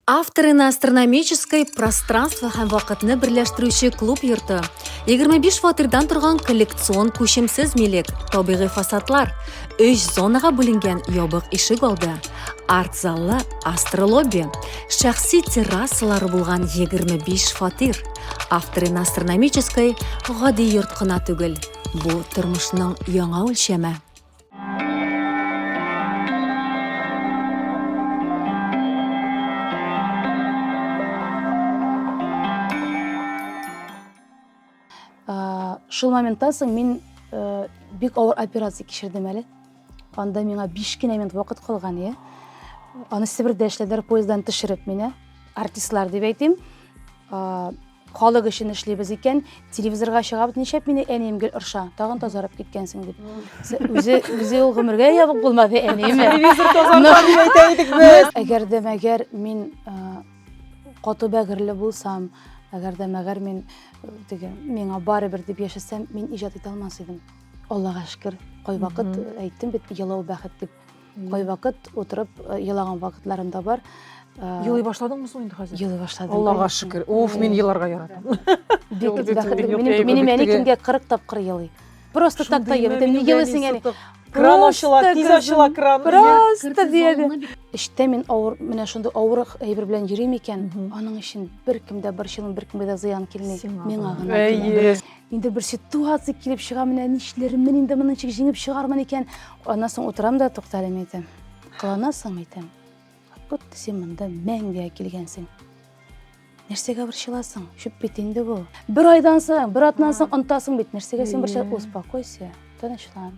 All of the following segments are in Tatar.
Авторына астрономической пространство һәм вакытны берләштерүче клуб йорты, 25 фатирдан торган коллекцион күчемсез милек, табигый фасадлар, 3 зонага бүленгән ябык ишек алды, арт заллы астролобби, шәхси террасалары булган 25 фатир. Авторына астрономической гади йорт кына түгел, бу тормышның яңа үлчәме. Шул моментта соң мин э, бик авыр операция кичердем әле. Анда миңа 5 кенә минут вакыт калган, иә. Аны Себердә эшләделәр, поезддан төшереп мине, артистлар дип әйтим. Халык өчен эшлибез икән, телевизорга чыгабыз, ничәп мине әнием гел орша, тагын тазарып киткәнсең дип. Се- Үзе үзе ул гомергә ябык булмады әниеме? Телевизор тазартам дип әйтә идек без. Әгәр дә мәгәр мин э, каты бәгырьле булсам, әгәр дә мәгәр мин э, теге миңа барыбер дип яшәсәм, мин иҗат итә алмас идем. Аллага шөкер, кайвакыт Мгм. әйттем бит, елау бәхет дип. Кайвакыт утырып э, елаган вакытларым да бар. Э, Елый башладыңмы соң инде хәзер? Елый башладым. Аллага шөкер. Уф, мин еларга яратам. Бик бәхетле. Минем минем әни көнгә 40 тапкыр елый. Просто так та елый. Мин елыйсың әни. Кран ачыла, тиз ачыла кран. Просто диеде. Эштә мин авыр, менә шундый авыр әйбер белән йөрим икән, аның өчен беркем дә борчылмый, беркемгә дә зыян килми. Миңа гына. Инде бер ситуация килеп чыга, менә нишләрмен инде моны ничек җиңеп чыгармын икән. Аннан соң утырам да туктале әйтәм. Кыланасың әйтәм. Вот син монда мәңгегә килгәнсең. Нәрсәгә борчыласың? Чүп бит инде бу. Бер айдан соң, бер атнан соң онтасың бит. Нәрсәгә син борчыласың? Успокойся, тынычлан.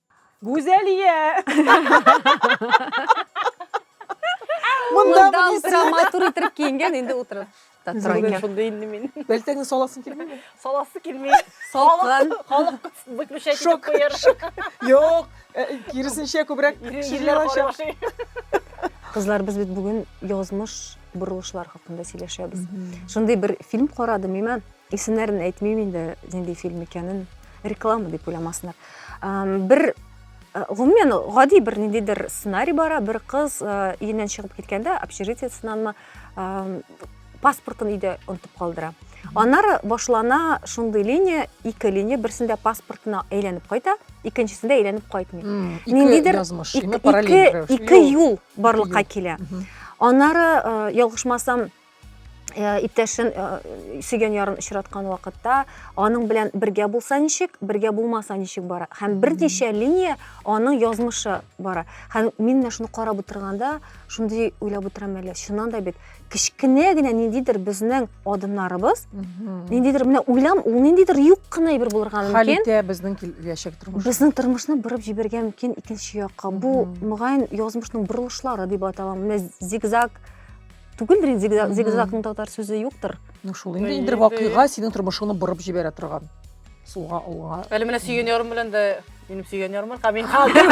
Гүзәлия! Монда Монда утыра, матур иттереп киенгән, инде утыра. Та тора Үзеңнән икән. шундый инде мин. Бәлтәңне саласың килмәде. Саласы килми. Салкын. Халык выключать итеп Шок. куяр. Юк, э, киресенчә күбрәк Ире- кеше ирләр җыелачак. карашый. Кызлар, без бит бүген язмыш борылышлар хакында сөйләшәбез. Шундый бер фильм карадым, имән. Исемнәрен әйтмим инде, нинди фильм икәнен, реклама дип уйламасыннар. Бер гомумән гади бер ниндидер сценарий бара, бер кыз өеннән чыгып киткәндә, общежитиесынанмы паспортын өйдә онтып калдыра. Аннары башлана шундый линия, ике линия, берсендә паспортына әйләнеп кайта, икенчесендә әйләнеп кайтмый. Ниндидер ике юл барлыкка килә. Аннары ялгышмасам Э, иптәшен э, сөйгән ярын очраткан вакытта аның белән бергә булса ничек бергә булмаса ничек бара һәм берничә линия аның язмышы бара һәм мин менә шуны карап утырганда шундый уйлап утырам әле чыннан да бит кечкенә генә ниндидер безнең адымнарыбыз ниндидер менә уйлам ул ниндидер юк кына әйбер булырга мөмкин хәл итә безнең киләчәк тормыш безнең тормышны борып җибәрергә мөмкин икенче якка бу мөгаен язмышның борылышлары дип атала менә зигзаг түгелдер инде зигзагның татар сүзе юктыр ну шул инде инде вакыйга синең тормышыңны борып җибәрә торган сулга алга әле менә сөйгән ярым белән дә минем сөйгән ярым бар мин калдым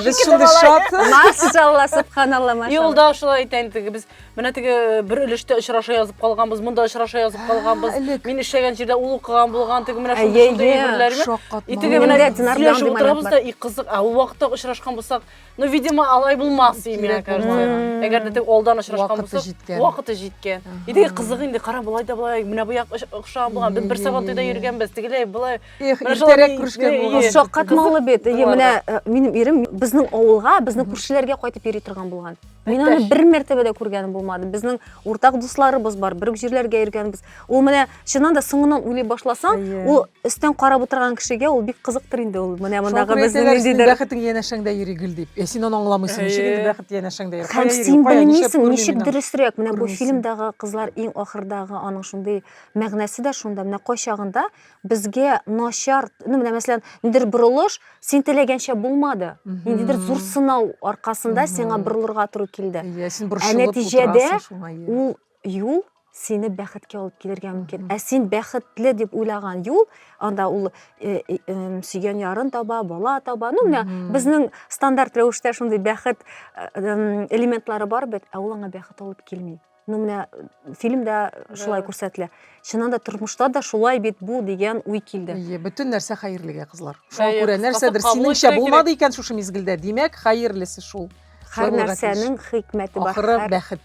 без шундый шат машалла субханалла машалла юлда шулай әйтә инде без менә теге э, бер өлештә очраша язып калганбыз монда очраша язып калганбыз мин эшләгән җирдә ул укыган булган теге менә шундый әйберләр и теге менә сөйләшеп утырабыз да и кызык ә ул вакытта очрашкан булсак Ну, видимо, алай булмас ди миңа караса. Әгәр дә тег алдан очрашкан булса, вакыты җиткән. Иде кызык инде, кара булай да булай, менә бу як охшаган булган. Без бер сабан туйда йөргәнбез, тегеләй булай. Эх, иртәрәк күрешкән булган. Шаккатмалы бит. Ие, менә э, минем ирем безнең авылга, безнең күршеләргә кайтып йөри торган булган. Мин аны бер мәртәбә дә күргәнем булмады. Безнең уртак дусларыбыз бар, бер үк җирләргә йөргәнбез. Ул менә чыннан да соңыннан уйлый башласаң ул өстән карап утырган кешегә ул бик кызыктыр инде ул менә мондагы безнең ниндидер бәхетең янәшәңдә йөри гел дип син аны аңламыйсың ничек инде бәхет янәшәңдә йөри һәм син белмисең ничек дөресрәк менә бу фильмдагы кызлар иң ахырдагы аның шундый мәгънәсе дә шунда менә кайчагында безгә начар ну менә мәсәлән ниндидер борылыш син теләгәнчә булмады ниндидер зур сынау аркасында сиңа борылырга туры килде ә нәтиҗәдә ул юл сине бәхеткә алып килергә мөмкин ә син бәхетле дип уйлаган юл анда ул э, э, э, сөйгән ярын таба бала таба ну менә безнең стандарт рәвештә шундый бәхет э, элементлары бар бит ә ул аңа бәхет алып килми ну менә фильмда шулай күрсәтелә чыннан да тормышта да шулай бит бу дигән уй килде Әйе, бөтен нәрсә хәерлегә, кызлар. Шуңа Әйе, күрә кыскасы, нәрсәдер кабул синеңчә итәргә булмады икән шушы мизгелдә, димәк, хәерлесе шул. һәр нәрсәнең хикмәте бар Ахыры бәхет.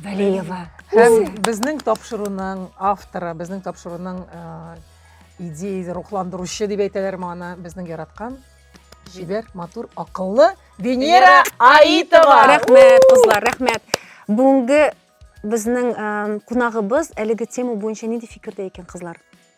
Валеева. Һәм безнең тапшыруның авторы, безнең тапшыруның идея рухландыручы дип әйтәләр моны безнең яраткан җибәр матур акыллы венера аитова рәхмәт кызлар рәхмәт бүгенге безнең кунагыбыз әлеге тема буенча нинди фикердә икән кызлар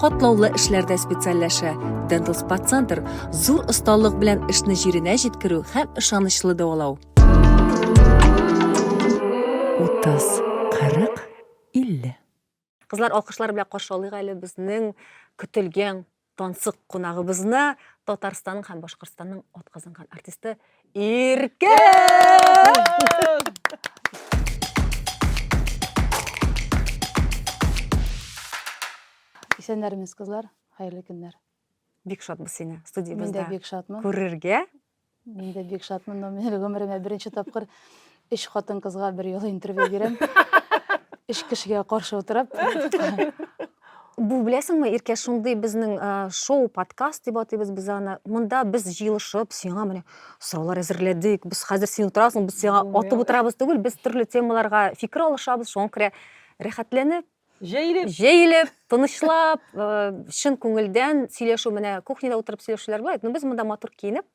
катлаулы эшләрдә специальләшә. Dental Spa Center зур осталык белән эшне җиренә җиткерү һәм ышанычлы дәвалау. 30, 40, 50. Кызлар, алкышлар белән каршы алыйк әле безнең көтелгән тансык кунагыбызны, Татарстанның һәм Башкортстанның атказанган артисты Иркә! Исәннәрмез, кызлар. Хәерле көннәр. Бик шатбыз сине студиябездә. Мин дә бик шатмын. Күрергә. Мин дә бик шатмын, но мин гомеремә беренче тапкыр Өч хатын-кызга бер юлы интервью бирәм. Өч кешегә каршы утырып. Бу беләсеңме, Иркә, шундый безнең шоу, подкаст дип атыйбыз без аны. Монда без җыелышып, сиңа менә сораулар әзерләдек. Без хәзер син утырасың, без сиңа атып утырабыз түгел, без төрле темаларга фикер алышабыз, шуңа күрә рәхәтләнеп, Җәелеп. Җәелеп, тынычлап, чын күңелдән сөйләшү менә кухняда утырып сөйләшүләр була. Ну без монда матур киенеп,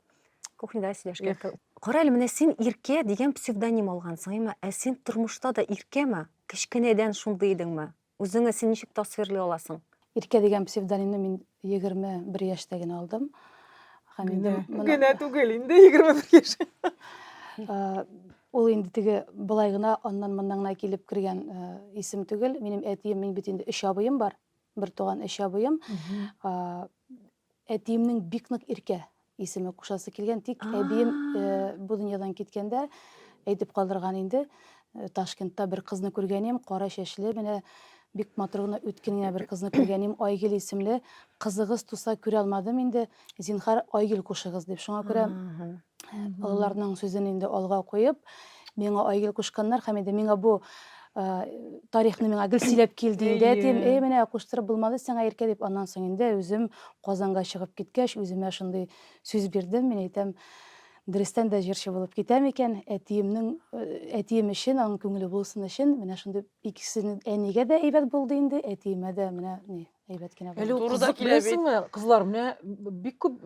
кухняда сөйләшкән. Кара әле менә син Иркә дигән псевдоним алгансың, әмма ә син тормышта да Иркәме? Кечкенәдән шундый идеңме? Үзеңне син ничек тасвирлый аласың? Иркә дигән псевдонимны мин Егерме бер яшьтә генә алдым. Һәм инде генә түгел инде егерме бер яшь. Ул инде теге былай гына аннан моннан гына килеп кергән исем түгел. Минем әтием, мин бит инде өч абыем бар. Бер туган өч абыем. Әтиемнең бик нык иркә Исеме кушасы килгән, тик әбием бу дөньядан киткәндә әйтеп калдырган инде. Ташкентта бер кызны күргәнем, кара чәчле, менә бик матур гына үткен генә бер кызны күргәнем, Айгөл исемле. Кызыгыз туса күрә алмадым инде. Зинхар, Айгөл кушыгыз дип. Шуңа күрә олыларның сүзен инде алга куеп, миңа Айгөл кушканнар һәм инде миңа бу тарихны миңа гел сөйләп килде инде әтием эй менә куштырып булмады сиңа иркә дип аннан соң инде үзем казанга чыгып киткәч үземә шундый сүз бирдем мин әйтәм дөрестән дә җырчы булып китәм икән әтиемнең әтием өчен аның күңеле булсын өчен менә шундый икесенең әнигә дә әйбәт булды инде әтиемә дә менә ни әйбәт кенә булды әле турыда киләсеңме кызлар менә бик күп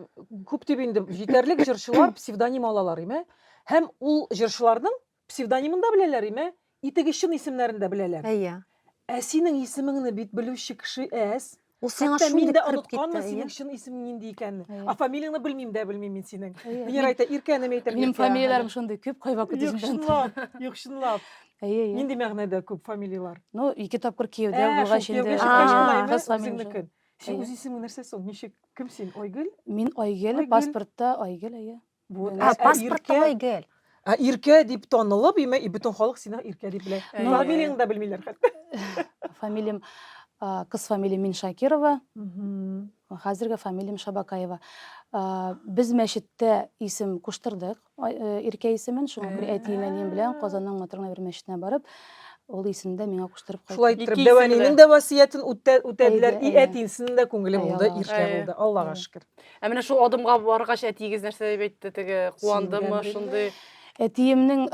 күп дип инде җитәрлек җырчылар псевдоним алалар име һәм ул җырчыларның Псевдонимын да беләләр, име? Итеге чын исемнәрен дә беләләр. Әйе. Ә синең исемеңне бит белүче кеше әз. Ул сиңа Хәтта мин дә онытканмын синең чын исемең нинди икәнен. А фамилияңне белмим дә белмим мин синең. Венера әйтә, Иркәнем әйтәм. Минем фамилияләрем шундый күп, кайвак күп үзем дә онытам. Юк, чынлап. Әйе, әйе. Нинди мәгънәдә күп фамилияләр? Ну, ике тапкыр кияүдә булгач инде. Кияүгә чыккач болай инде үзеңнеке. Синең үз исемең нәрсә соң? Ничек? Кем син? Айгөл? Мин Айгөл, паспортта Айгөл, әйе. Бу ә, паспорт тулай гел. Ә иркә дип танылып, име и бөтен халык сине иркә дип белә. Ну, фамилияңны да белмиләр хәтта. Фамилиям кыз фамилиям Мин Шакирова. Хәзерге фамилиям Шабакаева. Без мәчеттә исем куштырдык. Э, иркә исемен шул бер әтиенә нем белән Казанның матурына бер мәчетенә барып, ул исемне дә миңа куштырып кайтты. Шулай итеп, дәвәнинең дә васыятен үтәделәр, и әтинсенең дә күңеле булды, иркә булды. Аллага шөкер. Ә менә шул адымга баргач, әтиегез нәрсә дип әйтте теге? Куандымы шундый? Әтиемнең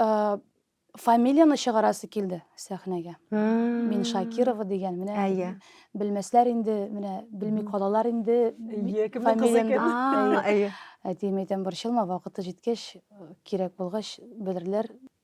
фамилияны чыгарасы килде сәхнәгә. Мин Шакирова дигән. Менә белмәсләр инде, менә белми калалар инде. Әтием әйтәм, борчылма, вакыты җиткәч, кирәк булгач, белерләр.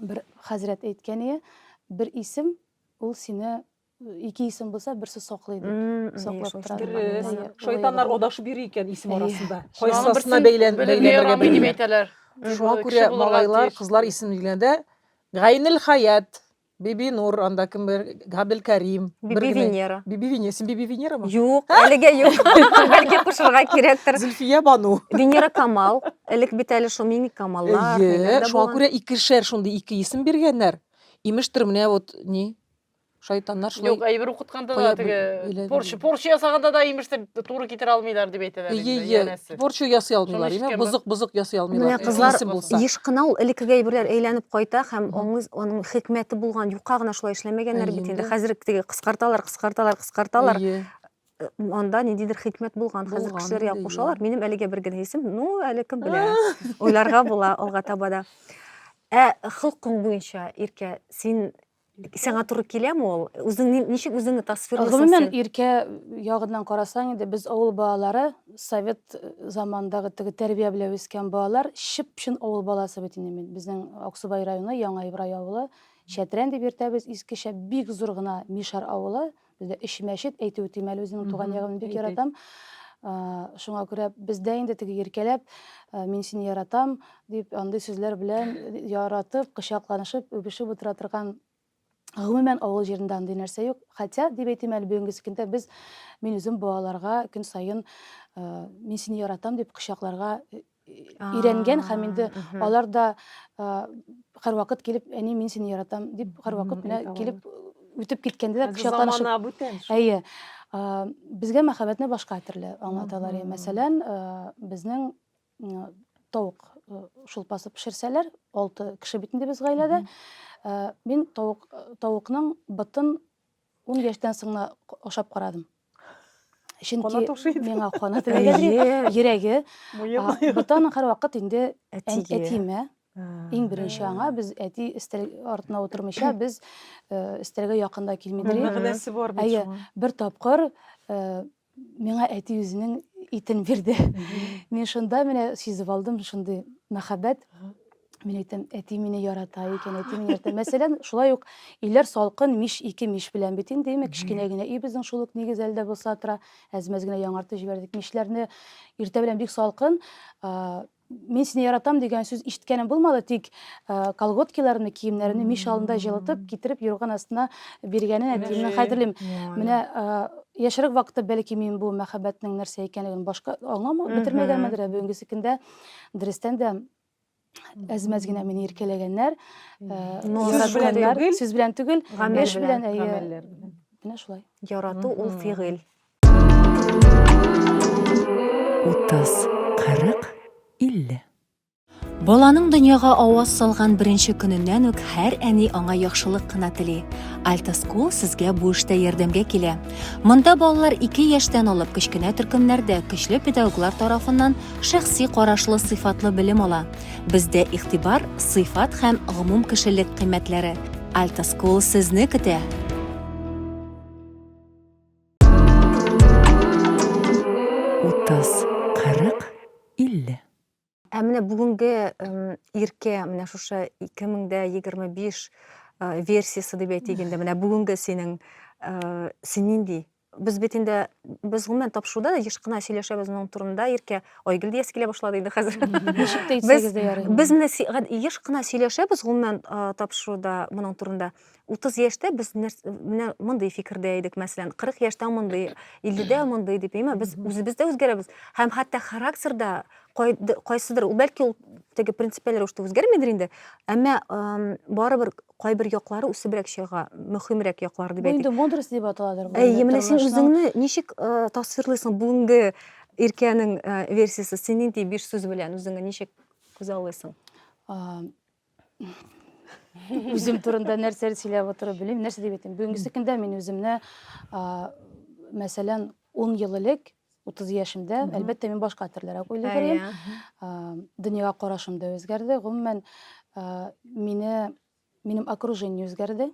Бер хәзрәт әйткән ие, бер исем ул сине ике исем булса берсе саклый дип саклап тора. Шайтаннар адашып йөри икән исем арасында. Кайсысына бәйлән бәйләнергә дип әйтәләр. Шуңа күрә малайлар, кызлар исем биргәндә Гайнел Хаят Бибинур, анда кем бар? Габелкәрим. Бер Биби генә. Венера. Биби Венера. Син Биби Венерамы? Юк, әлегә юк. Бәлки кушырга кирәктер. Зөлфия Бану. Венера Камал. Элек бит әле шул мимик Камаллар. ниләр Әйе, дә шуңа булган. күрә икешәр шундый ике исем биргәннәр. Имештер менә вот ни? Шайтаннар шулай. Юк, әйбер укытканда Кая да бел- теге белә- порча, порча ясаганда да имештер туры китерә алмыйлар дип әйтәләр инде Ие, ие. янәсе. Борчу ясый алмыйлар, Шуны яме, ишеткәнбез. бозык-бозык ясый алмыйлар. Менә кызлар Тиешле булса. еш кына ул элеккеге әйберләр әйләнеп кайта һәм Мгм. аңыз аның хикмәте булган юка гына шулай эшләмәгәннәр бит инде. Әйе. Хәзер теге кыскарталар, кыскарталар, кыскарталар. Ие. Э, Анда ниндидер хикмәт булган. Хәзер Булган кешеләр инде, ягып ие. кушалар. Минем әлегә бер генә исем, ну әле кем белә. Уйларга була алга таба да. Ә холкың буенча, Иркә, син Сиңа туры киләме ул? Үзең ничек үзеңне тасвирлыйсың? Гомумән иркә ягыннан карасаң инде без авыл балалары, совет э, замандагы теге тәрбия белән үскән балалар, чып-чын авыл баласы бит инде мин. Безнең Аксубай районы, Яңа Ибрай авылы, Чәтрән дип йөртәбез, искечә бик зур гына Мишар авылы, Бездә өч мәчет әйтеп үтим әле үземнең туган ягымны бик яратам. Шуңа күрә бездә инде теге иркәләп мин сине яратам дип андый сүзләр белән яратып, кочакланышып, үбешеп утыра торган Гомумән авыл җирендә андый нәрсә юк. Хотя дип әйтим әле бүгенге көндә без мин үзем балаларга көн саен мин сине яратам дип кочакларга өйрәнгән һәм инде алар да һәрвакыт килеп әни мин сине яратам дип һәрвакыт менә килеп үтеп киткәндә кочакланышып әйе безгә мәхәббәтне башка төрле аңлаталар мәсәлән безнең тавык шулпасы пешерсәләр алты кеше бит инде без гаиләдә мин тавык тавыкның ботын Ун яшьтән соң да ашап карадым. Чөнки миңа кана теләгәдер. Йөрәге. Бутаның һәрвакыт инде әтиме. Иң беренче аңа без әти өстәл артына утырмыйча без өстәлгә якында килмидер. Мәгънәсе бар бит шуның. Бер тапкыр Миңа әти үзенең итен бирде. Мин шунда менә сизеп алдым шундый мәхәббәт. Мин әйтәм, әти мине ярата икән, әти мине ярата. Мәсәлән, шулай ук өйләр салкын, мич ике мич белән бит инде, имә кечкенә генә өй безнең шул ук нигез әлдә булса тора. Әзмәз генә яңартып җибәрдек. Мичләрне иртә белән бик салкын, Мин сине яратам дигән сүз ишеткәнем булмады, тик э, колготкиларымны, киемнәремне мич алдында җылытып, китереп юрган астына биргәнен әтиемнең хәтерлим. Менә э, яшьрәк вакытта бәлки мин бу мәхәббәтнең нәрсә икәнлеген башка аңламау Мгм. бетермәгәнмендер, ә бүгенгесе көндә дөрестән дә әз-мәз генә мине иркәләгәннәр. э, Ну, Сүз яратканнар. белән яратканнар. түгел. Сүз белән түгел, Гамәл эш белән, белән, әйе. гамәлләр белән. Менә шулай. Ярату ул Мгм. фигыль. Утыз, кырык, илле. Баланың дөньяга аваз салган беренче көненнән үк һәр әни аңа яхшылык кына тели. Alta School сезгә бу эштә ярдәмгә килә. Монда балалар 2 яшьтән алып кечкенә төркемнәрдә көчле педагоглар тарафыннан шәхси карашлы сыйфатлы белем ала. Бездә игътибар, сыйфат һәм гомум кешелек кыйммәтләре. Alta School сезне көтә. Утыз, кырык, илле. Ә менә бүгенге иркә менә шушы 2025 версиясе дип әйтик инде. Менә бүгенге синең син нинди без бит инде без гомумән тапшыруда да еш кына сөйләшәбез моның турында иркә айгөл диясе килә башлады инде хәзер ничек тә итсәгез дә ярый без менә еш кына сөйләшәбез гомумән тапшыруда моның турында 30 яшьтә без менә мондый фикердә идек, мәсәлән, 40 яшьтә мондый, 50-дә мондый дип, әмма без үзебез дә үзгәрәбез. Һәм хәтта характерда кайсыдыр, ул бәлки ул теге принципиаль рәвештә үзгәрмидер инде, әмма барыбер кайбер яклары үсебрәк чыга, мөһимрәк яклары дип әйтик. Бу инде мудрость дип аталадыр. Әйе, менә син үзеңне ничек тасвирлыйсың бүгенге иркәнең версиясе, син нинди биш сүз белән үзеңне ничек күзаллыйсың? Үзем турында нәрсәләр сөйләп отырып белмим, нәрсә дип әйтим. Бүгенге көндә мин үземне, мәсәлән, 10 ел элек, 30 яшемдә, әлбәттә, мин башка төрлерәк уйлый идем. Дөньяга карашым да үзгәрде. Гомумән, мине минем окружение үзгәрде.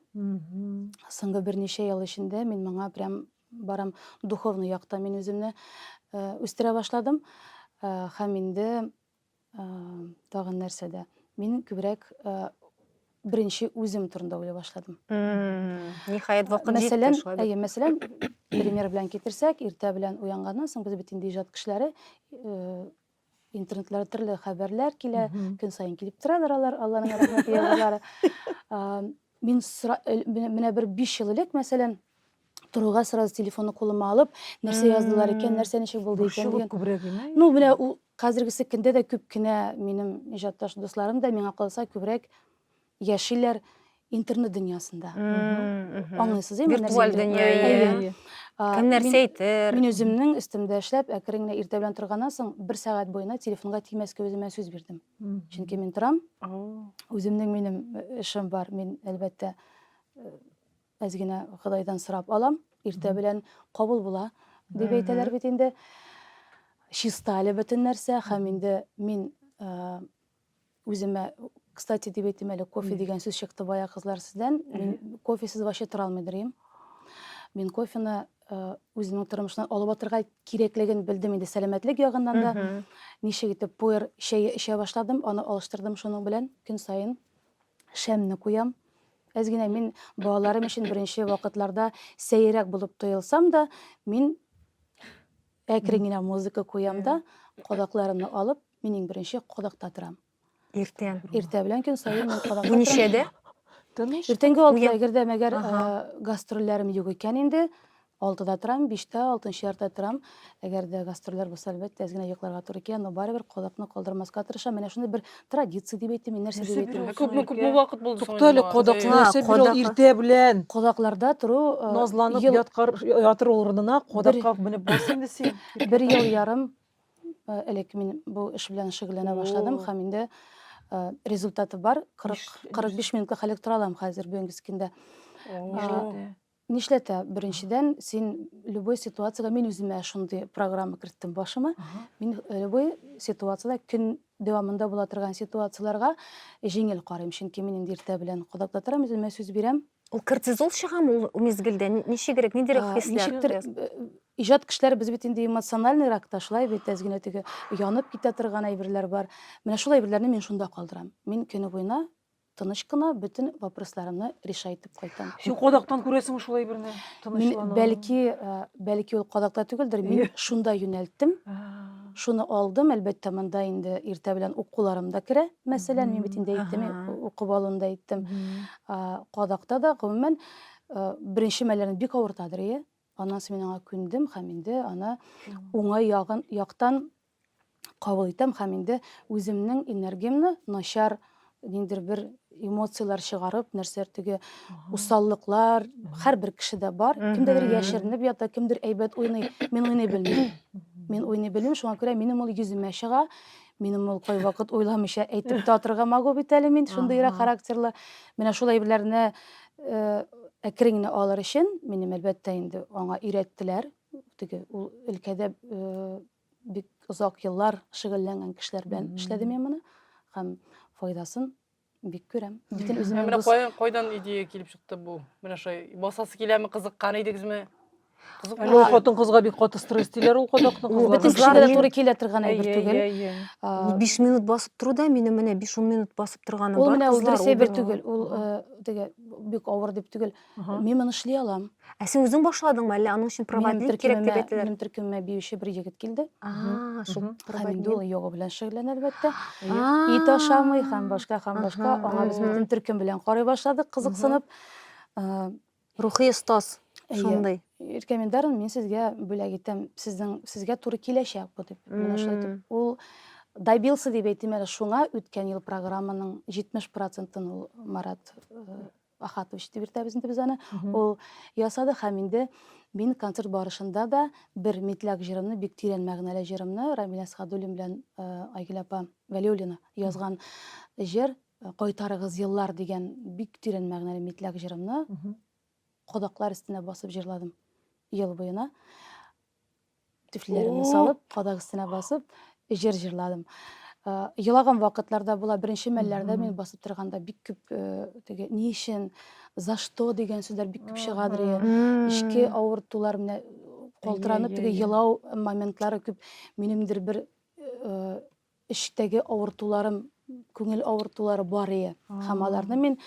Соңгы берничә ел эчендә мин моңа прям барам духовный якта мин үземне үстерә башладым. Һәм инде Тагын нәрсәдә? Мин күбрәк беренче үзем турында уйлый башладым. Ниһаять вакыт җитте шулай. Әйе, мәсәлән, пример белән китерсәк, иртә белән уянганнан соң без бит инде иҗат кешеләре интернетларда төрле хәбәрләр килә, көн саен килеп торалар алар, Алланың рәхмәте ягулары. Мин менә бер 5 ел элек, мәсәлән, торуга сразу телефонны кулыма алып нәрсә яздылар икән нәрсә ничек булды икән дигән күбрәк ну менә ул хәзергесе көндә дә күп кенә минем иҗатташ дусларым да миңа калса күбрәк яшиләр интернет дөньясында аңлыйсыз ме виртуаль дөнья кем нәрсә әйтер мин үземнең өстемдә эшләп әкрен генә иртә белән торганнан соң бер сәгать буена телефонга тимәскә үземә сүз бирдем чөнки мин торам үземнең минем эшем бар мин әлбәттә Әз генә Ходайдан сорап алам, иртә белән кабул була, дип әйтәләр бит инде. Чиста әле бөтен нәрсә, һәм инде мин үземә Кстати, дип әйтим әле, кофе дигән сүз чыкты бая кызлар сездән. Мин кофесез вообще тора алмый дөрим. Мин кофены үземнең тормышымнан алып атырга кирәклеген белдем инде сәламәтлек ягыннан да. Ничек итеп пуэр чәе эчә башладым, аны алыштырдым шуның белән көн саен. шәмне куям. Әз генә мин балаларым өчен беренче вакытларда сәерәк булып тоелсам да, мин әкрен генә музыка куям да, кадакларымны алып, мин иң беренче кадакта торам. Иртә. Иртә белән көн саен мин кадакта торам. Ничәдә? Иртәнге алтыда, әгәр дә мәгәр гастрольләрем юк икән инде, Алтыда торам, биштә, алтынчы яртыда торам. Әгәр дә гастрольләр булса, әлбәттә, әз генә йокларга туры килә, но барыбер кодакны калдырмаска тырышам. Менә шуны бер традиция дип әйтим, мин нәрсә дип Нәрсә әйтим. бирү? Күпме күпме вакыт булды соң? Туктале, кодакны Ха, нәрсә бирү кодакка. иртә белән? Кодакларда тору э, Назланып ел- яткар, ятыр урынына кодакка менеп бас инде син. бер ел ярым э, элек мин бу эш белән шөгыльләнә башладым О. һәм инде э, результаты бар. 40 Нишле- 45 минутлы хәлгә тора алам хәзер Бөенгескиндә. О. Нишләтә? Нишләтә? Беренчедән, син любой ситуациягә мин үземә шундый программа керттем башыма. Мин э, любой ситуациядә көн дәвамында була торган ситуацияләргә җиңел карыйм, чөнки мин инде иртә белән кадакта торам, үземә сүз бирәм. Ул кортизол чыгамы ул мизгелдә? Ни- Ничегрәк, ниндирәк А, хисләр? Ничектер э, иҗат кешеләр без бит инде эмоциональный рак та шулай бит әз генә теге янып китә торган әйберләр бар. Менә шул әйберләрне мин шунда калдырам. Мин көне буена тыныч кына бөтен вопросларымны реша итеп кайтам. Син кадактан күрәсеңме шулай берне? Тынычлану. Бәлки, э, бәлки ул кадакта түгелдер, мин шунда юнәлттем. Шуны алдым, әлбәттә, монда инде иртә белән укуларым да керә. Мәсәлән, мин бит инде әйттем, укып алуны да әйттем. Кадакта да гомумән э, беренче мәлләрен бик авыртадыр, иә? Аннан соң мин аңа күндем һәм инде аны уңай ягын яктан кабул итәм һәм инде үземнең энергиямне начар ниндер бер эмоцияләр чыгарып, нәрсәләр теге усаллыклар һәрбер кешедә бар. Кемдәдер яшеренеп ята, кемдер әйбәт уйный. Мин уйный белмим. Мин уйный белмим, шуңа күрә минем ул йөземә чыга. Минем ул кайвакыт уйламыйча әйтеп тә атырга могу бит әле мин шундыйрак характерлы. Менә шул әйберләрне э, әкрен генә алыр өчен минем әлбәттә инде аңа өйрәттеләр. Теге ул өлкәдә э, бик озак еллар шөгыльләнгән кешеләр белән эшләдем мин моны һәм файдасын бик күрәм. Бөтен үземнең Менә кайдан кайдан идея килеп чыкты бу? Менә шулай басасы киләме, кызыккан идегезме? Кызык ул хатын кызга бик каты стресс диләр ул кадакны кызлар. Бөтен кешегә туры килә торган әйбер түгел. 5 минут басып тору да минем менә 5-10 минут басып торганым бар. Ул менә ул дөрес әйбер түгел. Ул теге бик авыр дип түгел. Мин моны эшли алам. Ә син үзең башладыңмы, әллә аның өчен проводник кирәк дип әйттеләр? Минем төркемемә биюче бер егет килде. А, шул проводник. Инде ул йога белән шөгыльләнә, әлбәттә. Ит ашамый һәм башка һәм башка. Аңа без бөтен төркем белән карый башладык, кызыксынып. Рухи остаз шундый. Рекомендарын мин сезгә бүләк итәм. Сезнең сезгә туры киләчәк бу дип. Менә шулай итеп ул добился дип әйтим әле шуңа үткән ел программаның 70 процентын ул Марат Ахатович дип йөртәбез инде без аны. Ул ясады һәм инде мин концерт барышында да бер митляк җырымны, бик тирән мәгънәле җырымны Рамилә Садуллин белән э, Айгөл апа Вәлиуллина язган җыр э, Кайтарыгыз еллар дигән бик тирән мәгънәле митляк җырымны кодаклар өстенә басып җырладым ел буена. Түфлиләремне салып, кадак өстенә басып, җыр җырладым. Елаган вакытларда була, беренче мәлләрдә мин басып торганда бик күп э, теге ни өчен, за что дигән сүзләр бик күп чыгадыр. Ичке авыртулар менә калтыранып теге елау моментлары күп минемдер бер э, эчтәге авыртуларым, күңел авыртулары бар ие. Һәм аларны мин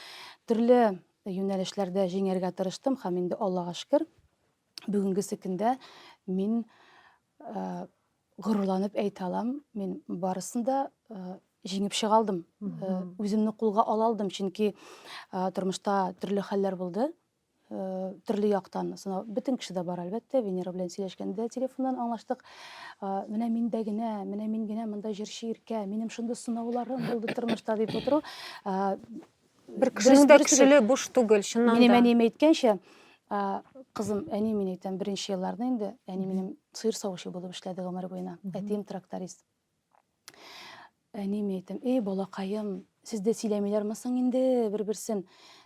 төрле юнәлешләрдә җиңәргә тырыштым һәм инде Аллага шкер, бүгенге секендә мин э, горурланып әйтә алам, мин барысын да э, җиңеп чыга алдым. Э, үземне кулга ала алдым, чөнки э, тормышта төрле хәлләр булды. төрле яктан сынау бөтен кеше дә бар әлбәттә венера белән сөйләшкәндә телефоннан аңлаштык менә миндә генә менә мин генә монда җырчы иркә минем шундый сынауларым булды тормышта дип утыру бер кешенең дә көчле буш түгел чыннан да минем әнием әйткәнчә кызым әни мин әйтәм беренче елларны инде әни минем сыер савучы булып эшләде гомер буена әтием тракторист Әни ми әйтәм, эй, балакаем, сездә сөйләмиләр мисың инде бер-берсен?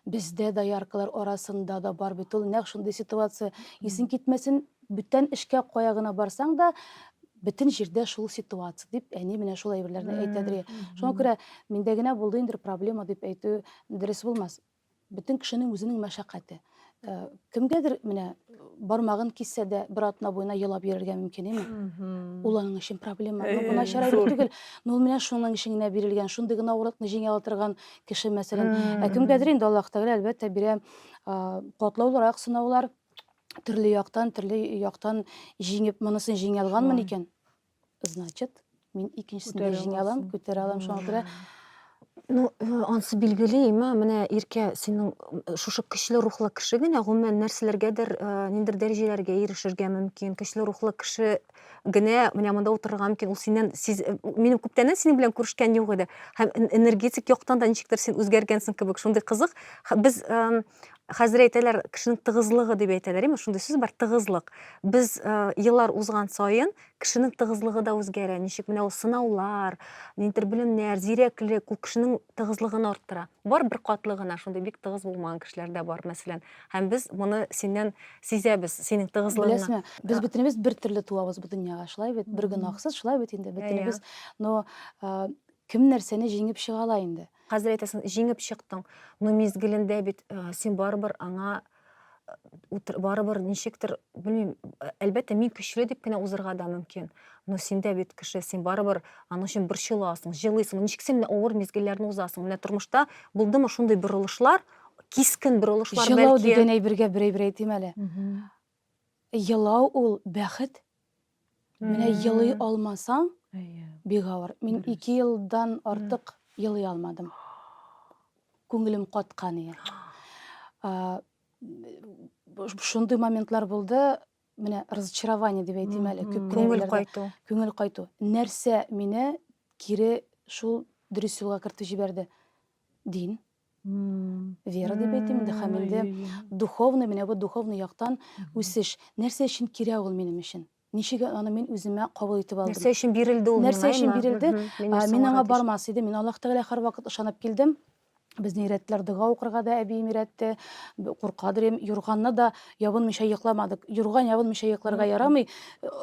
Бездә дояркалар арасында да бар бит ул нәкъ шундый ситуация. Исең китмәсен, бүтән эшкә кая гына барсаң да, бөтен җирдә шул ситуация дип әни менә шул әйберләрне әйтәдер. Шуңа күрә миндә генә булды инде проблема дип әйтү дөрес булмас. Бөтен кешенең үзенең мәшәкате. Э, кемгәдер менә бармагын киссе дә бер атна буена елап йөрергә мөмкин эми ул аның өчен проблема но бу начар әйбер түгел но ул менә шуның өчен генә бирелгән шундый гына авырлыкны җиңә ала торган кеше мәсәлән ә кемгәдер инде аллаһ тәгалә әлбәттә бирә катлаулырак сынаулар төрле яктан төрле яктан җиңеп монысын җиңә алганмын икән Значит, мин икенчесен дә җиңә алам, күтәрә алам, шуңа күрә Ну, э, ансы билгеле, имә, менә Иркә, синең э, шушы көчле рухлы кеше генә, гомумән, нәрсәләргәдер, э, ниндер дәрәҗәләргә ирешергә мөмкин. Көчле рухлы кеше генә менә монда утырырга мөмкин. Ул синнән, сиз, э, минем күптәннән синең белән күрешкән юк иде. Һәм энергетик яктан да ничектер син үзгәргәнсең кебек, шундый кызык. Без эм, хәзер әйтәләр кешенең тыгызлыгы дип әйтәләр имеш шундый сүз бар тыгызлык без э, еллар узган саен кешенең тыгызлыгы да үзгәрә ничек менә ул сынаулар ниндидер белемнәр зирәклек ул кешенең тыгызлыгын арттыра бар бер катлы гына шундый бик тыгыз булмаган кешеләр дә бар мәсәлән һәм без моны синнән сизәбез синең тыгызлыгыңны беләсеңме без э. бөтенебез бер төрле туабыз бу дөньяга шулай бит бер гөнаһсыз шулай бит инде бөтенебез но э, кем нәрсәне җиңеп чыга ала инде Хәзер әйтәсең, җиңеп чыктың. Но мизгелендә бит э, син барыбер аңа э, утыр- барыбер ничектер, белмим, э, әлбәттә мин көчле дип кенә узырга да мөмкин. Но синдә бит кеше, син барыбер аның өчен борчыласың, җылыйсың. Ничек син менә авыр мизгелләрне узасың? Менә тормышта булдымы шундый борылышлар, кискен борылышлар Җылау бәлки? дигән әйбергә берәй-берәй әйтим әле. Елау ул бәхет. Менә елый алмасаң, бик авыр. Мин ике елдан артык елый алмадым. Күңелем каткан иде. Шундый моментлар булды, менә разочарование дип әйтим әле, күп Күңел кенә кайту. күңел кайту. Нәрсә мине кире шул дөрес юлга кертеп җибәрде? Дин. Вера дип әйтим инде, һәм инде духовный, менә бу духовный яктан үсеш. Нәрсә өчен кирәк ул минем өчен? Ничек аны мин үземә кабул итеп алдым? Нәрсә өчен бирелде ул? Нәрсә өчен бирелде? Мин аңа бармас идем. Мин Аллаһ Тәгалә һәрвакыт ышанып килдем. Безне өйрәттеләр дога укырга да әбием өйрәтте. Куркадыр идем. Юрганны да Ябынмыйча йокламадык. Юрган ябынмыйча йокларга ярамый.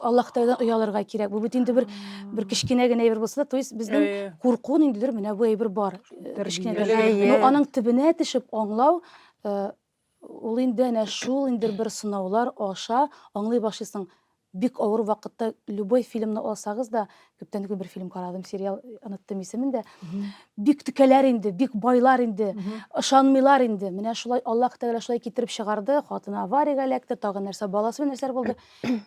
Алла Хтайдан оялырга кирәк. Бу бит инде бер бер кечкенә генә әйбер булса да, то есть безнең Әйе. курку ниндидер менә бу әйбер бар. Э, кечкенә Тәрбияле. генә. Әйе. Но аның төбенә төшеп аңлау э, ул инде әнә шул инде бер сынаулар аша аңлый башлыйсың. Бик авыр вакытта любой фильмны алсагыз да, күптән түгел бер фильм карадым, сериал, оныттым исемен дә. Бик текәләр инде, бик байлар инде, ышанмыйлар инде. Менә шулай Аллаһ Тәгалә шулай китереп чыгарды, хатыны авариягә эләкте, тагы нәрсә баласы белән нәрсәләр булды.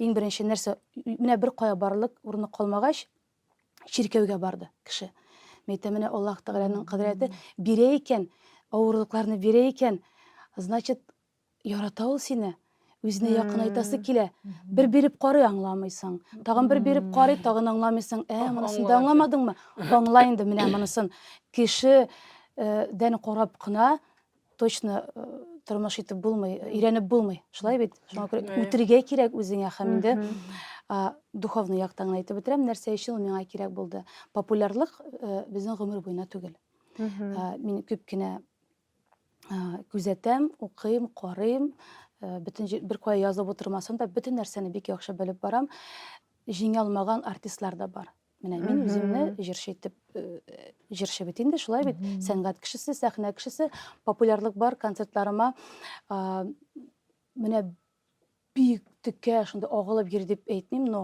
Иң беренче нәрсә, менә бер кая барлык урыны калмагач, чиркәүгә барды кеше. Мин әйтәм, менә Аллаһ Тәгаләнең кодрәте бирә икән, авырлыкларны бирә икән, значит, Ярата ул сине. Үзенә якынайтасы килә. Бер биреп карый, аңламыйсың. Тагын бер биреп карый, тагын аңламыйсың. Ә, монысын да аңламадыңмы? Аңла инде менә монысын. Кеше дән карап кына точно тормыш итеп булмый, өйрәнеп булмый. Шулай бит? Шуңа күрә үтергә кирәк үзеңә һәм инде духовный яктан гына әйтеп бетерәм, нәрсә өчен ул миңа кирәк булды. Популярлык безнең гомер буена түгел. Мин күп кенә күзәтәм, укыйм, карыйм, бөтен беркая язып утырмасам да, бөтен нәрсәне бик яхшы белеп барам. Җиңә алмаган артистлар да бар. Менә мин үземне җырчы итеп җырчы бит инде, шулай бит. Сәнгать кешесе, сәхнә кешесе, популярлык бар, концертларыма менә бик текә шунда агылып йөри дип әйтмим но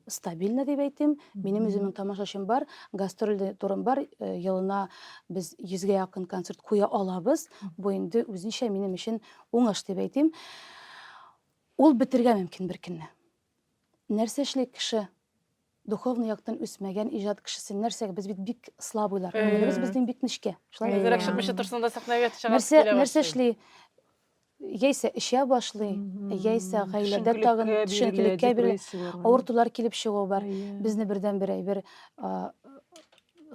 стабильно дип әйтим минем үземнең тамашачым бар гастроль турым бар э, елына без йөзгә якын концерт куя алабыз бу инде үзенчә минем өчен уңыш дип әйтим ул бетергә мөмкин бер көнне Нәрсә эшли кеше? Духовный яктан үсмәгән иҗат кешесе нәрсәгә? Без бит бик слабыйлар. Күңелебез э. безнең бик нечкә. Шулай Әзрәк чыкмыйча торсын да сәхнәгә чыгасы килә. Нәрсә эшли? яисә эчә башлый, яисә гаиләдә тагын төшенкелеккә бирелә. Авыртулар килеп чыгу бар. Безне бердән бер әйбер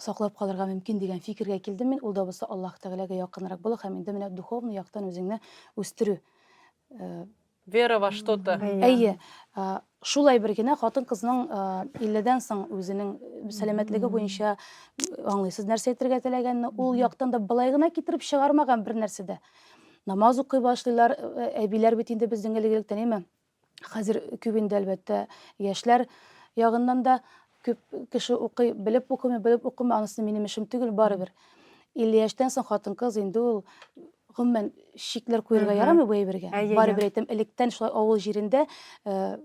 саклап калырга мөмкин дигән фикергә килдем мин. Ул да булса Аллаһ Тәгаләгә якынрак булу һәм инде менә духовный яктан үзеңне үстерү. Вера во что-то. Әйе, шул әйбер генә хатын-кызның 50 дән соң үзенең сәламәтлеге буенча аңлыйсыз нәрсә әйтергә теләгәнне, ул яктан да былай гына китереп чыгармаган бер нәрсә дә. Намаз укый башлыйлар, әбиләр бит инде безнең элек-электән, әйме? Хәзер күп инде, әлбәттә, яшьләр ягыннан да Күп кеше укый, белеп укымый, белеп укымый, анысы минем эшем түгел, барыбер. 50 яшьтән соң хатын-кыз инде ул гомумән шикләр куярга Мгм. ярамый бу әйбергә. Әйе, әйе. Барыбер әйтәм, электән шулай авыл җирендә э,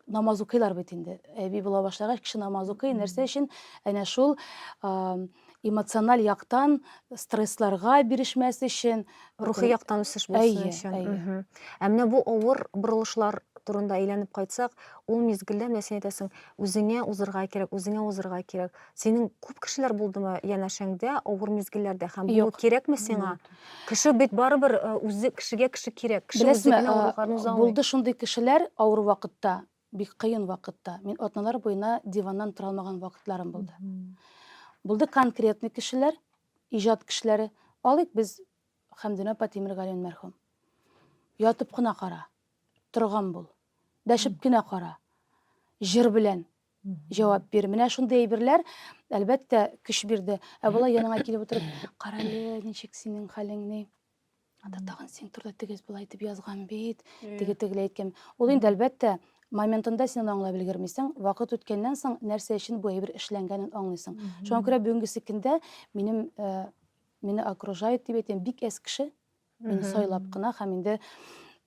намаз укыйлар бит инде. Әби була башлагач, кеше намаз укый, нәрсә өчен? Әнә шул а, эмоциональ яктан стрессларга бирешмәс өчен рухи яктан үсеш булсын өчен ә менә бу авыр борылышлар турында әйләнеп кайтсак ул мизгелдә менә син әйтәсең үзеңә узырга кирәк үзеңә узырга кирәк синең күп кешеләр булдымы янәшәңдә авыр мизгелләрдә һәм бу кирәкме сиңа кеше бит барыбер э, үзе кешегә кеше кирәк кеше үзенә авырлыкларын уза алмый булды шундый кешеләр авыр вакытта Бик кыен вакытта. Мин атналар буена диваннан тора алмаган вакытларым булды. Булды конкретный кешеләр, иҗат кешеләре. Алыйк без Хәмдүнә апа Тимергалиевна мәрхүм. Ятып кына кара, торган бул. Дәшеп кенә кара. Җыр белән җавап бир. Менә шундый әйберләр, әлбәттә, көч бирде. Ә болай яныңа килеп утырып, карале, ничек синең хәлең, ни? Ата тагын син турда тигез болай итеп язган бит, теге тегеләй әйткән. Ул инде әлбәттә моментында син аны аңлап өлгермисең. Вакыт үткәннән соң нәрсә өчен бу әйбер эшләнгәнен аңлыйсың. Шуңа күрә бүгенге секундда минем э, мине окружает дип әйтәм, бик әз кеше мине сайлап кына һәм инде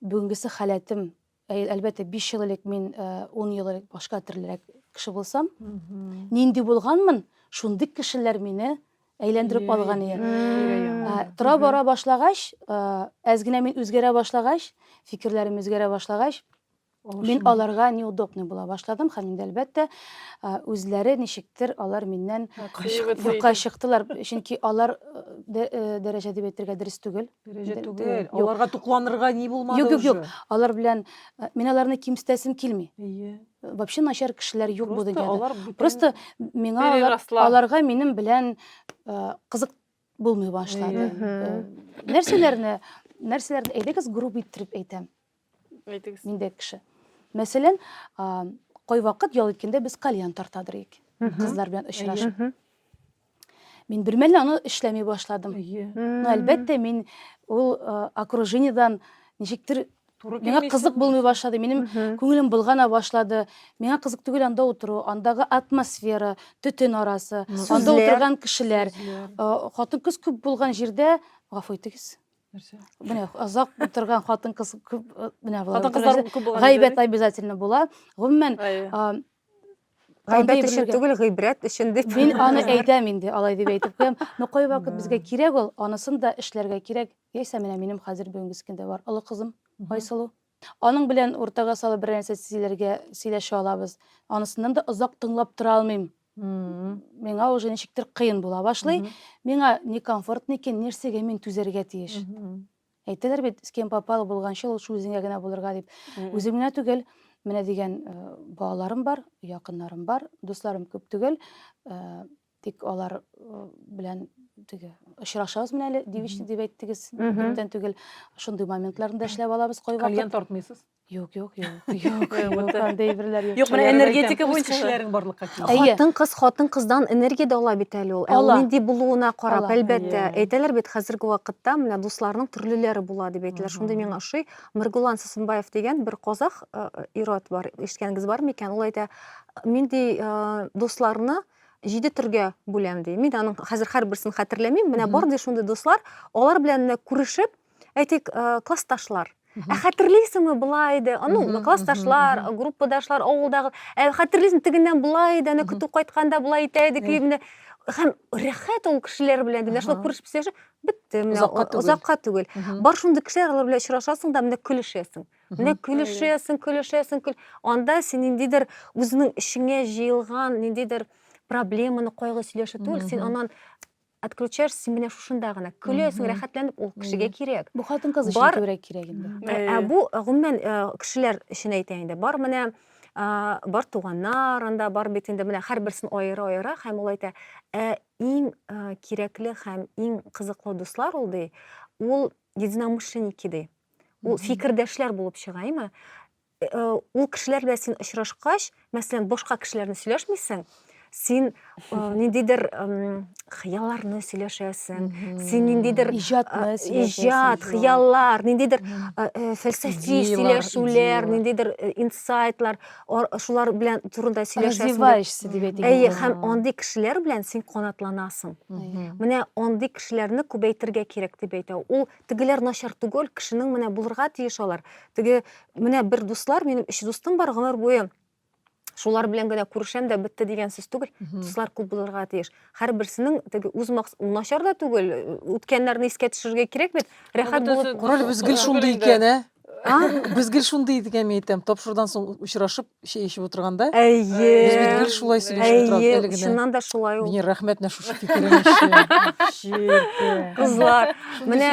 бүгенгесе халәтем Әй, әлбәттә, биш ел элек мин, э, ун ел элек башка төрлерәк кеше булсам, нинди булганмын, шундый кешеләр мине әйләндереп алган иде. Ә, Тора бара башлагач, э, әз генә мин үзгәрә башлагач, фикерләрем үзгәрә башлагач, мин аларга неудобный була башладым һәм инде әлбәттә, э, үзләре ничектер алар миннән юкка чыктылар, чөнки алар э, дә- э, дәрәҗә дип әйтергә дөрес түгел. Дәрәҗә Дә- түгел. дә- юк. Аларга тукланырга ни булмады Юк, юк, уже. юк. Алар белән э, мин аларны кимсетәсем килми. Әйе. Э, Вообще начар кешеләр юк бу Просто дөньяда. алар бүтән- Просто миңа алар, Переросла. аларга минем белән э, кызык булмый башлады. Әйе. Э, Нәрсәләрне нәрсәләрне әйдәгез групп иттереп әйтәм. Әйтегез. Миндәй кеше. Мәсәлән, кайвакыт ял иткәндә без кальян тартадыр ик. Кызлар белән очрашып. Мин бер мәлне аны эшләми башладым. Ну, әлбәттә, мин ул окружениедән ничектер Миңа кызык булмый башлады, минем күңелем болгана башлады. Миңа кызык түгел анда утыру, андагы атмосфера, төтен арасы, анда утырган кешеләр. Хатын-кыз күп булган җирдә, гафу итегез, нәрсә менә озак утырган хатын кыз күп э, менә хатын кызлар күп булган гайбәт обязательно була гомумән гайбәт өчен түгел гыйбрәт өчен дип мин аны әйтәм инде алай дип әйтеп куям но кайвакыт безгә кирәк ул анысын да эшләргә кирәк яисә менә минем хәзер бүгенге кендә бар олы кызым айсылу Аның белән уртага салып берәр нәрсә сөйләргә сөйләшә алабыз. Анысыннан да озак тыңлап тора алмыйм. Миңа уже ничектер кыен була башлый. Миңа не комфортно икән, нәрсәгә мин түзәргә тиеш? Әйтәләр бит, с кем попало булганчы ул үзеңә генә булырга дип. Үзем генә түгел, менә дигән э, балаларым бар, якыннарым бар, дусларым күп түгел. Э, Тик алар э, белән теге очрашабыз менә әле девичник дип әйттегез. Күптән түгел шундый моментларында эшләп алабыз кайвакыт. Кальян тартмыйсыз? Юк, юк, юк. Юк, юк, андый әйберләр юк. Юк, менә энергетика буенча эшләрең барлыкка килә. Хатын кыз хатын кыздан энергия дә ала бит әле ул. Ә ул нинди булуына карап, әлбәттә. Әйтәләр бит хәзерге вакытта менә дусларның төрлеләре була дип әйтәләр. Шундый миңа ошый. Миргулан Сусынбаев дигән бер казах э, э, ират бар. Ишеткәнгез бар микән? Ул әйтә, миндей э, дусларны җиде төргә бүләм ди. Мин аның хәзер һәрберсен хәтерләмим. Менә бар ди шундый дуслар, алар белән менә күрешеп, әйтик, э, классташлар. Ә хәтерлисеңме болай иде? Аның Мгм, классташлар, мгм, мгм. группадашлар, авылдагы. Ә хәтерлисең тегеннән болай иде, аны Мгм. көтү кайтканда болай итә идек, Э. менә һәм рәхәт ул кешеләр белән ди. Менә шулай Аһа. күрешеп сөйләшеп, бетте менә Озакка түгел. озакка түгел. Мгм. Бар шундый кешеләр, алар белән очрашасың да менә көлешәсең. Менә көлешәсең, көлешәсең, көл... анда син ниндидер үзеңнең эчеңә җыелган ниндидер проблеманы, кайгы сөйләшү түгел, син аннан отключаешь син менә шушында гына көләсең рәхәтләнеп ул кешегә кирәк бу хатын кыз өчен күбрәк кирәк инде ә, ә бу гомумән кешеләр өчен әйтә инде бар менә бар туганнар анда бар бит инде менә һәрберсен аера аера һәм ул әйтә ә иң кирәкле һәм иң кызыклы дуслар ул ди ул единомышленники ди ул фикердәшләр булып чыгаймы э, э, ул кешеләр белән син очрашкач мәсәлән башка кешеләр белән сөйләшмисең син э, ниндидер хыялларны сөйләшәсең син ниндидер иҗатны иҗат хыяллар ниндидер фәлсәфи сөйләшүләр ниндидер инсайтлар шулар белән турында сөйләшәсең развиваешься дип әйтик әйе һәм андый кешеләр белән син канатланасың менә андый кешеләрне күбәйтергә кирәк дип әйтә ул тегеләр начар түгел, кешенең менә булырга тиеш алар. Теге менә бер дуслар, минем өч дустым бар гомер буе шулар белән генә күрешәм дә бетте дигән сүз түгел. Дуслар күп булырга тиеш. Һәрберсенең теге үз макс начар да түгел, үткәннәрне искә төшерергә кирәк бит. Рәхәт булып Ролебез гел шундый икән, ә? без гел шундый идек әми әйтәм тапшырудан соң очрашып чәй эчеп утырганда әйе без бит гел шулай сөйләшеп торабыз әле чыннан да шулай ул венера рәхмәт менә шушы кызлар менә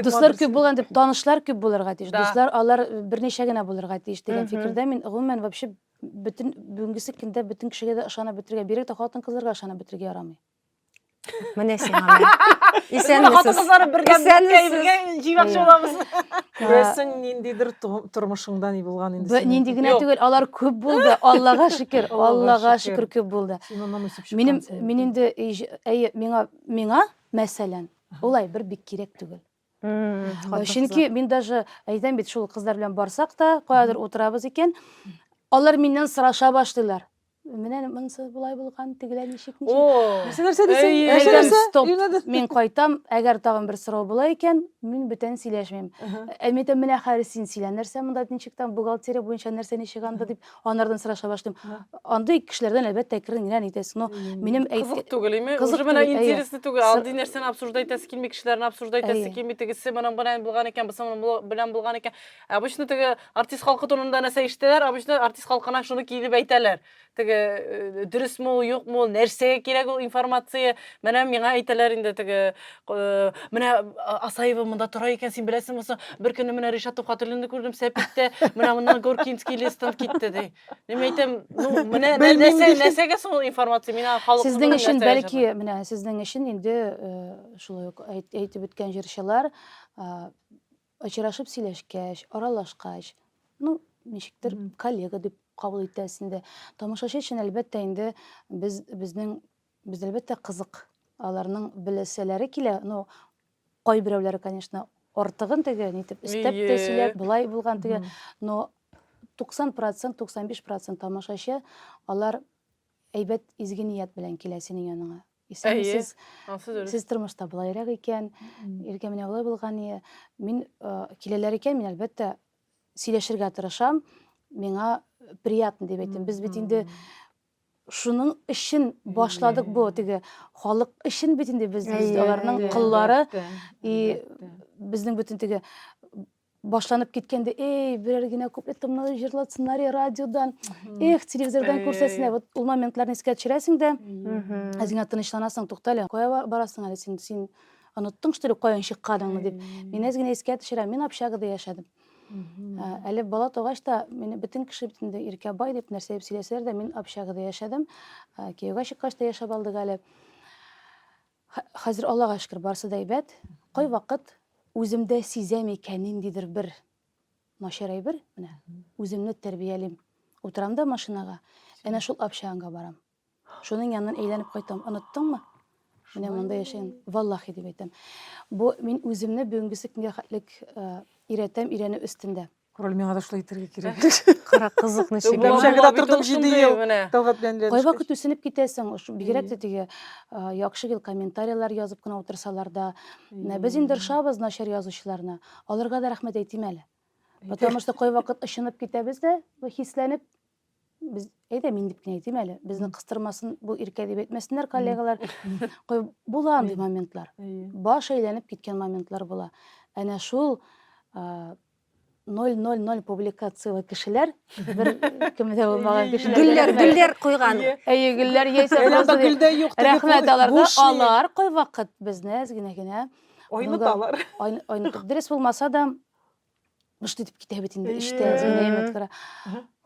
дуслар күп булган дип танышлар күп булырга тиеш дуслар алар берничә генә булырга тиеш дигән фикердә мин гомумән вообще бөтен бүгенгесе көндә бөтен кешегә дә ышанып бетергә бигрәк тә хатын кызларга ышанып бетергә ярамый міне сиңа исәнмесез күрәсең ниндидер тормышыңда ни булган инде нинди генә түгел алар күп булды аллага шөкер аллага шөкер күп булды минем мин инде әйе миңа миңа мәсәлән олай бер бик кирәк түгел чөнки мин даже әйтәм бит шул кызлар белән барсак та каядыр утырабыз икән алар миннән сораша башлыйлар менә монысы болай булган тегеләр ничек нәрсә нәрсә дисең мин кайтам әгәр тагын бер сорау була икән мин бүтән сөйләшмим әмитә менә хәзер син сөйлә нәрсә монда ничек там бухгалтерия буенча нәрсә ничек анда дип Анардан сораша башлыйм. Андый кешеләрдән әлбәттә керен генә итәсең. Но минем әйт... Кызык түгел, име? Кызык түгел. Менә интересле түгел. Андый нәрсәне обсуждать итәсе килми, кешеләрне обсуждать итәсе килми. Тегесе моның белән булган икән, бусы моның белән булган икән. Обычно теге артист халкы турында нәрсә ишетәләр, обычно артист халкына шуны килеп әйтәләр. Теге э, дөресме ул, юкмы ул, нәрсәгә кирәк ул информация? Менә миңа әйтәләр инде теге Э, менә а, Асаева монда тора икән, син беләсең булса, бер көнне менә Ришат Тухатуллинны күрдем Сәпиттә, менә моннан Горкинский лестан китте ди. Ниме әйтәм, ну, менә нәрсә, нәрсәгә соң ул информация? Мина халык Сезнең өчен бәлки, менә сезнең өчен инде э, шулай ук әйтеп үткән җырчылар очрашып сөйләшкәч, аралашкач, ну, ничектер коллега дип кабул итәсендә. Тамашачы өчен әлбәттә инде без безнең Без әлбәттә кызык аларның беләсәләре килә, ну кайберәүләре, конечно, артыгын теге нитеп истәп тә сөйләп, болай булган теге, но 90 процент, 95 процент тамашачы алар әйбәт изге ният белән килә синең яныңа. Исән сез, сез тормышта болайрак икән, иргә менә болай булган ие. Мин киләләр икән, мин әлбәттә сөйләшергә тырышам, миңа приятно дип әйтәм. Без бит инде Шуның өчен башладык бу теге халык өчен бит инде без без аларның кыллары и безнең бөтен теге башланып киткәндә эй берәр генә куплетымны җырлатсыннар радиодан эх телевизордан күрсәтсеннәр вот ул моментларны искә төшерәсең дә үзеңә тынычланасың туктале кая барасың әле син син оныттың что ли каян чыкканыңны дип мин әз генә искә төшерәм мин общагада яшәдем Әле бала тугач та мине бөтен кеше бит инде Иркәбай дип нәрсә дип сөйләсәләр дә, мин общагада яшәдем. Кияүгә чыккач та яшәп алдык әле. Хәзер Аллага шөкер, барсы да әйбәт. Кайвакыт үземдә сизәм икән ниндидер бер начар әйбер, менә үземне тәрбиялим. Утырам да машинага, әнә шул общагага барам. Шуның янынан әйләнеп кайтам. Оныттыңмы? Менә монда яшәгән. Валлахи дип әйтәм. Бу мин үземне бүгенге көнгә хәтлек өйрәтәм, өйрәнү өстендә. Король миңа да шулай итәргә кирәк. Кара кызык ничек. Бакчагыда тордым 7 ел. Тәлгать белән ләнеш. Кайвакыт үсенеп китәсең, бигрәк тә теге яхшы гел комментарийлар язып кына утырсалар да. Без инде ошабыз начар язучыларны. Аларга да рәхмәт әйтим әле. Потому что кайвакыт ышынып китәбез дә, хисләнеп, Без әйдә мин дип кенә әйтим әле. Безне кыстырмасын, бу иркә дип әйтмәсеннәр коллегалар. Кой- Була андый моментлар. Әйе. Баш әйләнеп киткән моментлар була. Әнә шул а, 000 публикацияле кешеләр, бер кеме дә булмаган Әйе, кешеләр. Гөлләр, рәхмәт. гөлләр куйган. Әйе. Әйе, гөлләр яисә Әллә просто дә- гөлдә юк теге Рәхмәт куй- аларга. буш ни? Алар кайвакыт безне әз генә генә Айныталар. ай- айнытып дөрес булмаса да гышт итеп китә бит инде эчтә нәймәт кара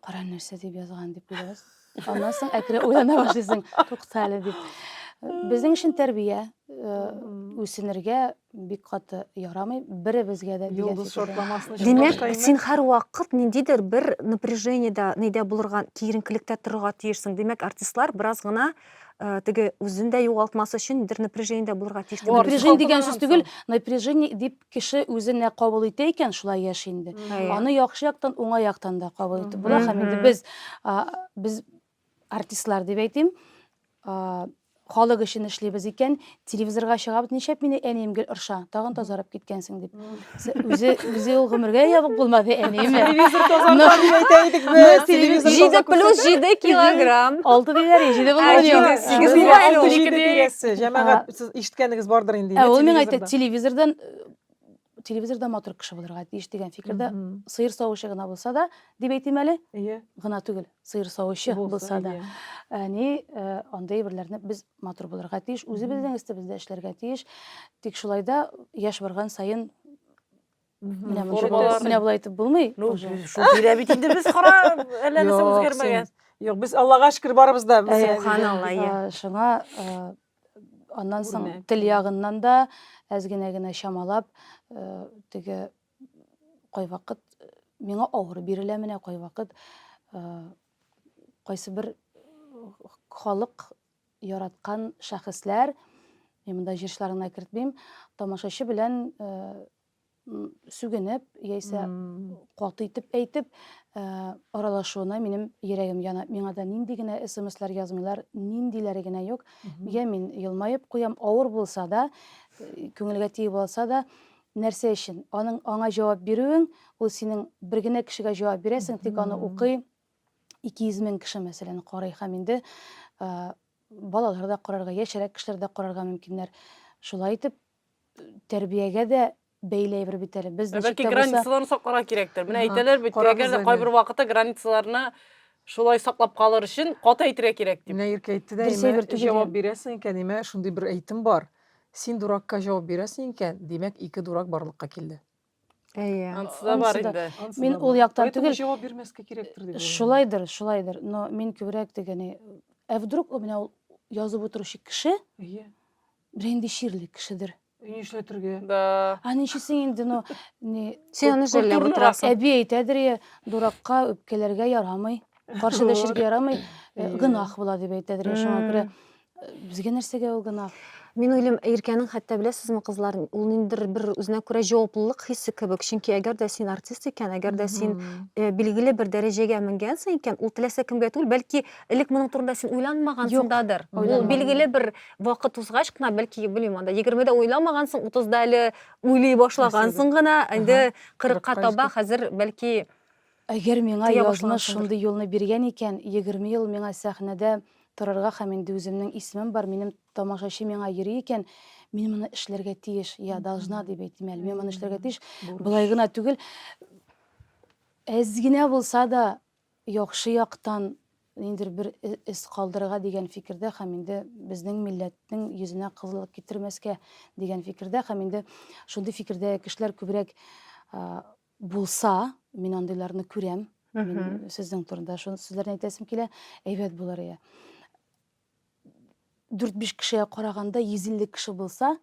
кара нәрсә дип язган дип уйлабыз аннан соң әкрен уйлана башлыйсың тукта әле дип безнең өчен тәрбия үсенергә бик каты ярамый беребезгә дә йолдыз шартламасын димәк син һәрвакыт ниндидер бер напряжениедә нидә булырга киеренкелектә торырга тиешсең димәк артистлар бераз гына теге үзен дә югалтмас өчен бер напряжениедә булырга тиеш напряжение дигән сүз түгел напряжение дип Кеше үзе нә кабул итә икән, шулай яши инде. Аны яхшы яктан, уңай яктан да кабул итеп була. Һәм инде без, без артистлар дип әйтим, халык өчен эшлибез икән, телевизорга чыгабыз, нишләп мине әнием гел орша, тагын тазарып киткәнсең дип. Үзе үзе ул гомергә ябык булмады әниеме? Телевизор тазарта дип әйтә идек без. Телевизор җиде плюс җиде килограмм. Алты диләр, җиде булмаган юк. Җәмәгать Сез ишеткәнегез бардыр инде. Ә ул миңа әйтә, телевизордан телевизорда матур кеше булырга тиеш дигән фикердә сыер савучы гына булса да дип әйтим әле иә гына түгел сыер савучы булса да әни андый әйберләрне без матур булырга тиеш үзебезнең өстебездә эшләргә тиеш тик шулай да яшь барган саен Менә Формалар- мунча- менә болай итеп булмый. Ну, уже. без шул тирә бит инде без кара әллә нәрсә Юк, үзгәрмәгән. Юк, без Аллага шөкер барыбыз да. без- Әйе. Субханалла, иә. Ә, Шуңа ә, аннан соң Үрнәк. тел ягыннан да әз генә генә чамалап ә, теге кайвакыт э, миңа авыр бирелә менә кайвакыт ә, кайсы бер э, халык яраткан шәхесләр, мин монда җырчыларны кертмим, тамашачы белән э, сүгенеп, яисә каты итеп әйтеп, э, аралашуына минем йөрәгем яна. Миңа да нинди генә смслар язмыйлар, ниндиләре генә юк. Я мин елмаеп куям, авыр булса да, э, күңелгә тиеп алса да, нәрсә өчен? Аның аңа җавап бирүең, ул синең бер генә кешегә җавап бирәсең, тик аны укый, 200 мең кеше мәсәлән карый һәм инде балалар да карарга, яшьрәк кешеләр дә карарга мөмкиннәр. Шулай итеп, тәрбиягә дә бәйле әйбер бит әле. Без ничек Бәлки границаларны сакларга кирәктер. Менә әйтәләр бит, әгәр дә кайбер вакытта границаларны шулай саклап калыр өчен каты әйтергә кирәк дип. Менә Иркә әйтте дә, имә җавап бирәсең икән, имә шундый бер әйтем бар. Син дуракка җавап бирәсең икән, димәк, ике дурак барлыкка килде. Әйе. Анысы да бар инде. Мин ул яктан түгел. Поэтому җавап бирмәскә кирәктер дип. Шулайдыр, шулайдыр. Но мин күбрәк дигәне, ә вдруг у меня язып утыручы кеше? Әйе. Бер инде чирле кешедер. Ни эшләтергә? Да. А ничесе инде, но не Син аны җәлләп утырасың. Әби әйтәдер я, дуракка үпкәләргә ярамый. каршы дәшергә ярамый, э, гынах була дип әйтәдер. Шуңа күрә э, безгә нәрсәгә ул гынах? Мин уйлыйм, Иркәнең хәтта беләсезме, кызлар, ул ниндидер бер үзенә күрә җаваплылык хисе кебек. Чөнки әгәр дә син артист икән, әгәр дә син э, билгеле бер дәрәҗәгә менгәнсең икән, ул теләсә кемгә түгел, бәлки элек моның турында син уйланмагансыңдадыр. Ул билгеле бер вакыт узгач кына, бәлки, белмим, анда 20-дә уйламагансың, 30-да әле уйлый башлагансың гына, инде 40-ка таба хәзер бәлки Әгәр миңа Тыя язмыш башлагансыңдыр. шундый юлны биргән икән, егерме ел миңа сәхнәдә торырга һәм инде үземнең исемем бар, минем тамашачы миңа йөри икән, мин моны эшләргә тиеш, я должна дип әйтим әле, мин моны эшләргә тиеш, Бурыч. болай гына түгел, әз генә булса да яхшы яктан ниндидер бер э, эз калдырырга дигән фикердә һәм инде безнең милләтнең йөзенә кызыллык китермәскә дигән фикердә һәм инде шундый фикердә кешеләр күбрәк а, Булса, мин андыйларны күрәм. Мин сезнең турында шуны сүзләрне әйтәсем килә. Әйбәт булыр иде. Дүрт-биш кешегә караганда 150 кеше булса,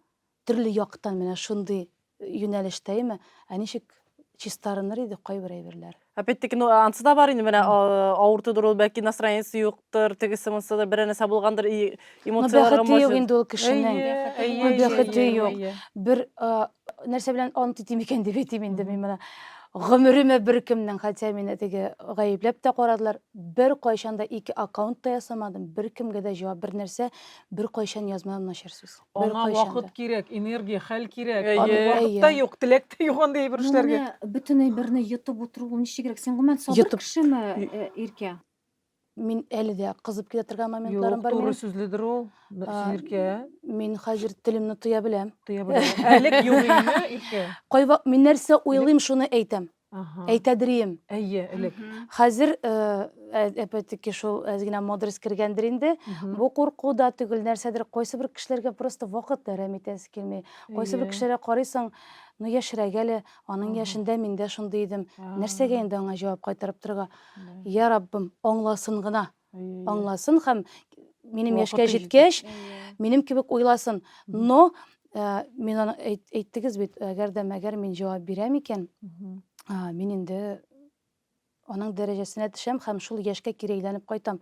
төрле яктан менә шундый юнәлештәме, ә ничек чистарыныр иде кайбер әйберләр. Опять-таки, ну, ансы да бар инде, менә авыртыдыр ул, бәлки настроениесе юктыр, тегесе монсы да бер нәрсә булгандыр, эмоцияләргә может. Бәхете юк инде ул кешенең. Бәхете юк. Бер нәрсә белән ант итим икән дип әйтим инде мин моны. Гомеремә беркемнең, хотя мине теге гаепләп тә карадылар, бер кайчан да ике аккаунт та ясамадым, беркемгә дә җавап бер нәрсә, бер кайчан язмадым начар сүз. Бер Аңа кайчан вакыт да. кирәк, энергия, хәл кирәк. Әйе. Аны Вакыт Әйе. та юк, теләк тә юк андый бер Ну, эшләргә. менә бөтен әйберне йотып утыру ул ничегрәк? Син гомумән сабыр Йотып. кешеме, э, Иркә? Мин әле дә кызып китә торган моментларым бар минем. Юк, туры сүзледер ул. Иркә. Мин хәзер телемне тоя беләм. Тоя беләм. Әлек юк инде, Иркә. Кайва мин нәрсә уйлыйм, шуны әйтәм. Әйтәдрием. Әйе, элек. Хәзер әпәтеки шул әзгенә модрость кергәндер инде. Бу курку да түгел, нәрсәдер кайсы бер кешеләргә просто вакыт әрәм итәсе килми. Кайсы бер кешеләргә карыйсың, ну яшерәгә әле, аның яшендә мин дә шундый идем. Нәрсәгә инде аңа җавап кайтарып торырга? я раббым аңласын гына аңласын һәм минем яшькә җиткәч минем кебек уйласын но э, мин аны әйттегез бит әгәр дә мәгәр мин җавап бирәм икән мин инде аның дәрәҗәсенә төшәм һәм шул яшькә кире әйләнеп кайтам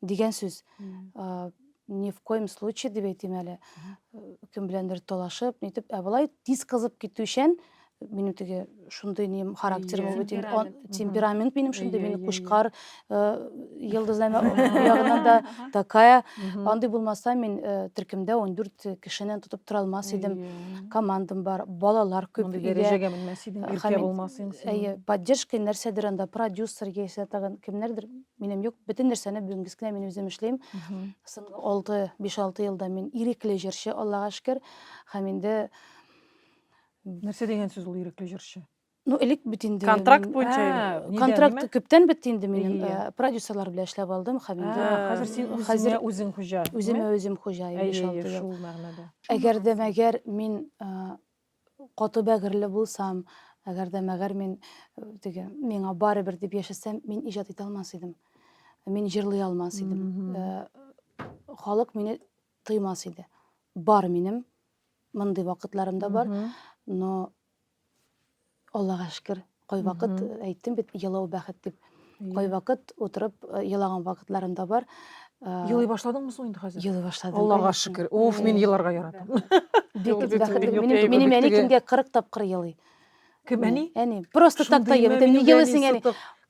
дигән сүз Ни в коем случае дип әйтим әле. Кем беләндер талашып, нитеп, ә болай тиз кызып китүчән, минем теге шундый нем характер бу бит темперамент минем шундый мин кушкар йылдызлар ягыннан да такая андый булмаса мин төркемдә 14 кешенен тотып тора алмас идем командам бар балалар күп дәрәҗәгә менмәс идең иркә булмас идең әйе поддержка нәрсәдер анда продюсер яисә тагын кемнәрдер минем юк бөтен нәрсәне бүгенге кенә мин үзем эшлим соңгы алты биш алты елда мин ирекле җырчы аллага шөкер һәм инде нәрсә дигән сүз ул ирекле җырчы ну элек бит инде контракт буенча ә, контракт күптән бетте инде минем ә, продюсерлар белән эшләп алдым һәм ә, инде хәзер син хәзер үзең хуҗа үземә үзем хуҗа шул мәгънәдә әгәр дә мәгәр мин Каты бәгырьле булсам, әгәр дә мәгәр мин э, теге миңа барыбер дип яшәсәм, мин иҗат итә алмас идем. Мин җырлый алмас идем. Э, Халык мине тыймас иде. Бар минем мондый вакытларым да бар, но Аллага шөкер, кайвакыт әйттем бит, елау бәхет дип. Кайвакыт утырып елаган вакытларым да бар. Елый башладыңмы соң инде хәзер? Елый башладым. Аллага шөкер. Уф, мин еларга яратам. Бик бәхетле. Минем минем әни көнгә 40 тапкыр елый. Кем әни? Әни. Просто так та елый. Ни елыйсың әни?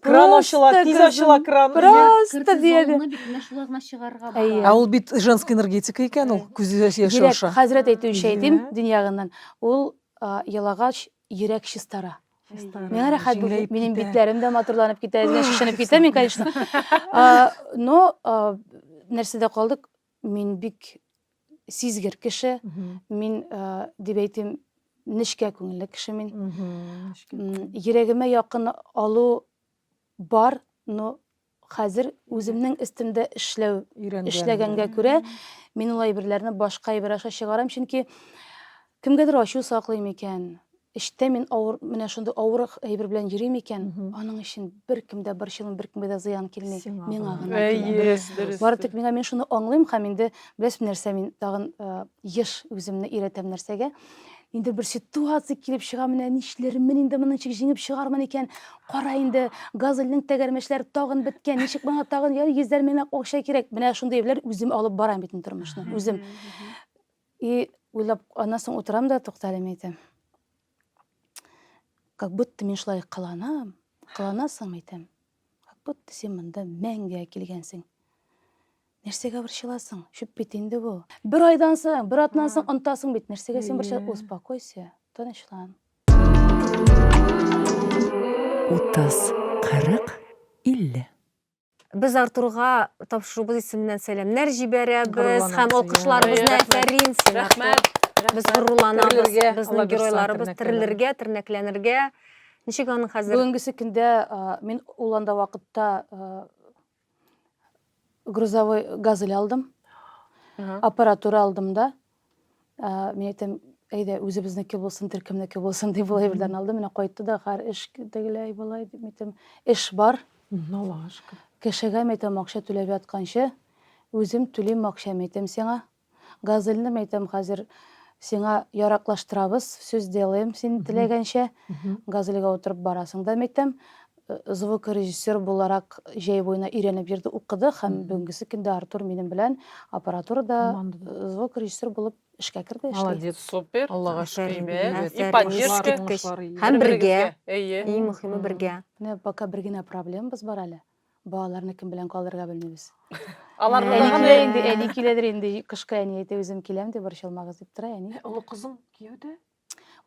Кран ачыла, тиз ачыла кран. Просто диеде. Ә ул бит женский энергетика икән ул, күзе яшь аша. Хәзрәт әйтүенчә әйтим, дөньягыннан. Ул елагач, йөрәк чистара. Миңа рәхәт булды. Минем битләрем дә матурланып китә, әзгә шешенеп китә мин, конечно. Но нәрсәдә калдык? Мин бик сизгер кеше. Мин дип әйтим, нечкә күңелле кеше мин. Йөрәгемә якын алу бар, но Хәзер үземнең өстемдә эшләү, эшләгәнгә күрә, мин ул әйберләрне башка әйбер аша чыгарам, чөнки кемгәдер ачу саклыйм икән, эштә мин авыр, менә шундый авыр әйбер белән йөрим икән, аның өчен беркем дә борчылмый, беркемгә дә зыян килми, миңа гына килә. Бары тик миңа, мин шуны аңлыйм һәм инде, беләсезме нәрсә, мин тагын еш үземне өйрәтәм нәрсәгә, Инде бер ситуация килеп чыга, менә нишләрмен инде, моны ничек җиңеп чыгармын икән? Кара инде, Газельнең тәгәрмәчләре тагын беткән, ничек моңа тагын яр йөзләр меңләп акча кирәк? Менә шундый эбләр үзем алып барам бит инде тормышны, үзем. И уйлап, аннан соң утырам да, тукта әле, мин әйтәм. Как будто мин шулай кыланам, кыланасың, әйтәм. Как будто син монда мәңгегә килгәнсең. Нәрсәгә борчыласың? Чүп бит инде бу. Бер айдан соң, бер атнан соң онтасың бит. Нәрсәгә син борчыласың? Успокойся, тынычлан. 30, 40, 50. Без Артурга тапшыруыбыз исеменнән сәламнәр җибәрәбез һәм алкышларыбызны әфәрин сиңа. Рәхмәт. Без горурланабыз, безнең геройларыбыз терелергә, тернәкләнергә. Ничек аның хәзер? Бүгенгесе көндә мин ул анда вакытта грузовой газель алдым аппаратура алдым да мен әйтәм әйдә үзебезнеке булсын төркемнеке булсын дип болай бердән алдым менә кайтты да гар эш тегеләй болай дип әйтәм эш бар кешегә әйтәм акча түләп ятканчы үзем түлим акча әйтәм сиңа Газельне мәйтәм хәзер сиңа яраклаштырабыз, сүз делаем син теләгәнчә. Газельгә утырып барасың да мәйтәм. Звукорежиссер буларак җәй буена өйрәнеп йөрде, укыды һәм бүгенгесе көндә Артур минем белән аппаратурада звукорежиссер булып эшкә керде, эшли. Молодец. Супер. Аллага шөкер. Әйбәт. И поддержка. Һәм бергә. Әйе. Иң мөхиме бергә. Менә пока бер генә проблемабыз бар әле. Балаларны кем белән калдырырга белмибез. Алар Әни булган килә инде, әни киләдер инде. Кышкы әни әйтә, үзем киләм дип борчылмагыз дип тора әни. Олы кызың кияүдә?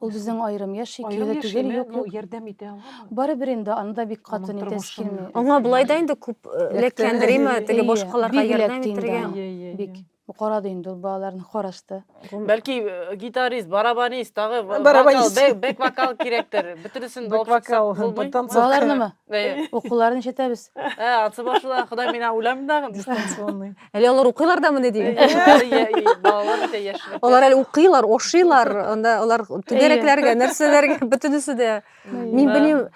Ул безнең аерым яши, Аерым кияүдә түгел, яшиме? юк, Ну, юк. ярдәм итә аламы? Барыбер инде аны да бик каты Аның нитәсе тормышын килми. Аңа болай да инде күп эләккәндер, Эләктерергә әйеме, бирми. теге Әйе, башкаларга бик ярдәм эләкте инде итәргә. аңа. Иә, иә, Бик. иә. Бу карады инде ул балаларны карашты. Бәлки э, гитарист, барабанист, тагы вокал, Барабанист. бэк- бэк вокал кирәктер. Бөтенесен Бэк алып шықсак вокал, булмый? танцор. Балаларнымы? Э, Укуларын ничәтәбез? э, ансы башла, Ходай мина үләм дагы. Дистанционный. Әле алар укыйлар да мени Э, дим. яшьләр, я- и Балалар бит яшьләр. Алар әле укыйлар, ошыйлар, анда алар түгәрәкләргә, нәрсәләргә, бөтенесе дә. Мин белмим,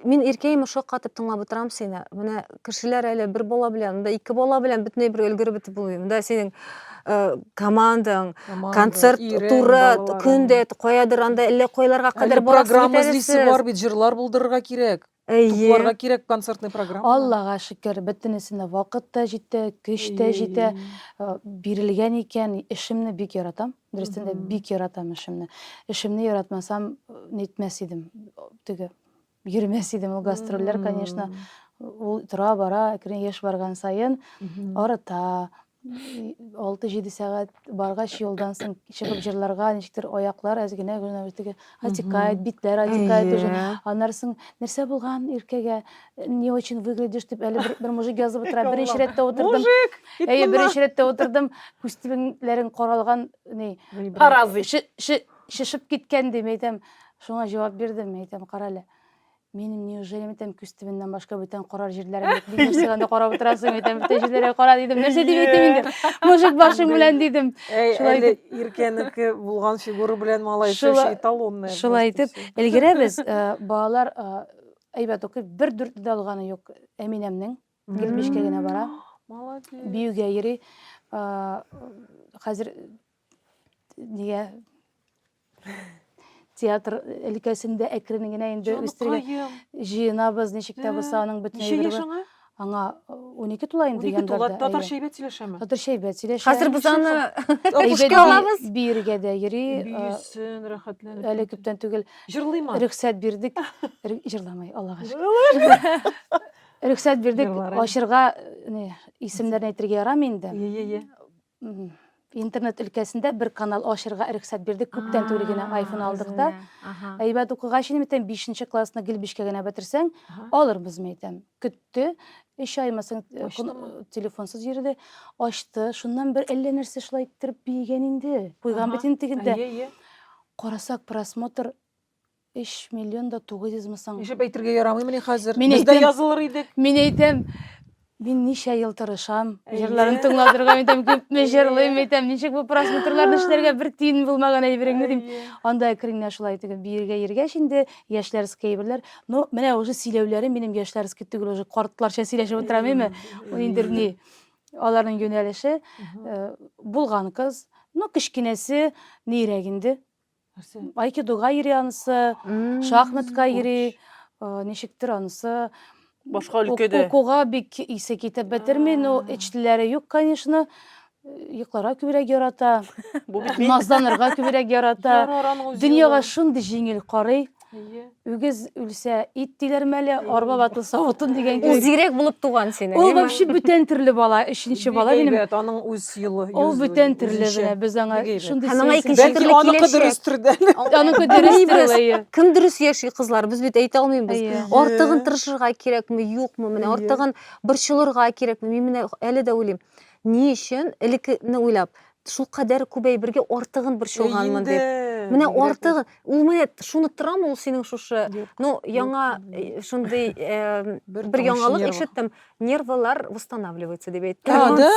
мин иркәйме шаккатып тыңлап утырам сине. Менә кешеләр әле бер бала белән, да ике бала белән бөтенләй бер өлгереп бетеп булмый. Монда синең э, командаң, концерт ирең, туры балаларың. көндә каядыр анда әллә кайларга Әле кадәр барасыз программа бит әле эзлисе сез. бар бит, җырлар булдырырга кирәк. Әйе. Тупларга кирәк концертный программа. Аллага шөкер, бөтенесенә вакыт та җитә, көч тә җитә. Э, Бирелгән икән, эшемне бик яратам. Дөрестән дә бик яратам эшемне. Эшемне яратмасам, нетмәс идем. Теге йөрмәс идем ул гастрольләр, конечно. Ул тора бара, әкрен яшь барган саен арыта. 6-7 сәгать баргач юлдан соң чыгып җырларга ничектер аяклар әз генә генә теге атикает битләр атикает уже аннары соң нәрсә булган иркәгә не очень выглядишь деп әле бер, бер мужик язып утыра беренче рәттә утырдым мужик әйе беренче рәттә утырдым күз тибеннәрен каралган ни каразый шешеп киткән дим әйтәм шуңа җавап бирдем әйтәм кара әле менің неужели әйтәм күз төбеннән башка бүтән карар җирләрем юк дидем сиңа да карап утырасың әйтәм бүтән җирләргә кара дидем нәрсә дип әйтим инде мужик башың белән дидем шулай итеп иркәнеке булган фигура белән малай эталонная шулай итеп өлгерәбез э, балалар э, Әйбәт укый. Бер дүрт дә алганы юк Әминәмнең. 75-кә генә бара. Молодец. Биюгә йөри. Хәзер нигә театр өлкәсендә әкрен генә инде үстергән. Җыенабыз, ничек тә булса аның бөтен әйберләре. Аңа унике тула инде Унике яндарда. тула, татарча әйбәт сөйләшәме? Татарча әйбәт сөйләшә. Хәзер без аны Әйбәт алабыз. Биергә дә йөри. Биюсен, рәхәтләнеп. Әле күптән түгел. Җырлыймы? Рөхсәт бирдек. Җырламый, Аллага шөкер. Рөхсәт бирдек, ачырга исемнәрен әйтергә ярамый инде. Ие, ие. интернет өлкәсендә бер канал ачырга рөхсәт бирде күптән түгел генә айфон алдык да әйбәт укыгач инде әйтәм бишенче классны гел бишкә генә бетерсәң алырбызмы әйтәм көтте өч аймы соң э, телефонсыз йөрде ачты шуннан бер әллә нәрсә шулай иттереп биегән инде куйган бит инде тегендә карасак просмотр Өч миллион да тугыз йөз мы соң? Ишеп әйтергә ярамыймыни хәзер? Мин Без дә әйтәм. язылыр идек. Мин әйтәм, мин ничә ел тырышам, Әйе. җырларын тыңлатырга, әйтәм, күпме Әйе. җырлыйм, әйтәм, ничек бу просмотрларны эшләргә, бер тиен булмаган әйбереңне, дим. Әйе. Анда әкренләп шулай итеп биергә йөргәч инде, яшьләрские әйберләр. Ну, менә уже сөйләүләре минем яшьләрский түгел, уже картларча сөйләшеп утырам име? Ул инде ни, аларның юнәлеше. Мгм. Э, Булган кыз. Ну, кечкенәсе нирәк инде. нәрсе айкидога йөри анысы шахматка йөри ничектер анысы башка өлкәдә укуга бик исе китеп бетерми но эч телләре юк конечно йокларга күбрәк ярата назланырга күбрәк ярата дөньяга шундый җиңел карый Үгез үлсә, ит диләр мәле, арба ватылса, утын дигән кебек. Ул зирәк булып туган синең. Ул вообще бүтән төрле бала, өченче бала минем. Әйбәт, аның үз юлы. Ул бүтән төрле менә без аңа шундый. Аның икенче төрле киләчәк. Аныкы дөрес төрдә. Аныкы дөрес төрдә. Кем дөрес яши кызлар, без бит әйтә алмыйбыз. Артыгын тырышырга кирәкме, юкмы, менә артыгын борчылырга кирәкме? Мин менә әле дә уйлыйм. Ни өчен элеккене уйлап, шулкадәр күп әйбергә артыгын борчылганмын дип. Менә артыгы, ул менә шуны торамы ул синең шушы? Ну, яңа э, шундый э, бер яңалык ишеттем. Нервылар восстанавливается дип әйтте. Аны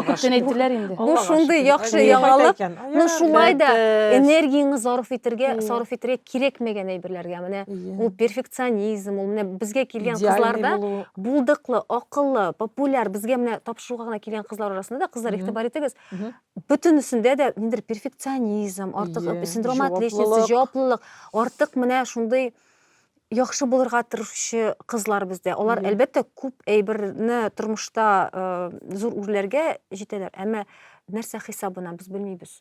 күптән әйттеләр инде. Бу шундый яхшы яңалык. Ну, шулай да энергияңне зарыф итәргә, сарыф итәргә кирәкмәгән әйберләргә менә ул перфекционизм, ул менә безгә килгән кызларда булдыклы, акыллы, популяр, безгә менә шуга гына килгән кызлар арасында да кызлар игътибар итегез бөтенесендә дә ниндидер перфекционизм артык yeah, синдром отличницы җаваплылык артык менә шундый яхшы булырга тырышучы кызлар бездә алар yeah. әлбәттә күп әйберне тормышта ә, зур үрләргә җитәләр әмма нәрсә хисабына без белмибез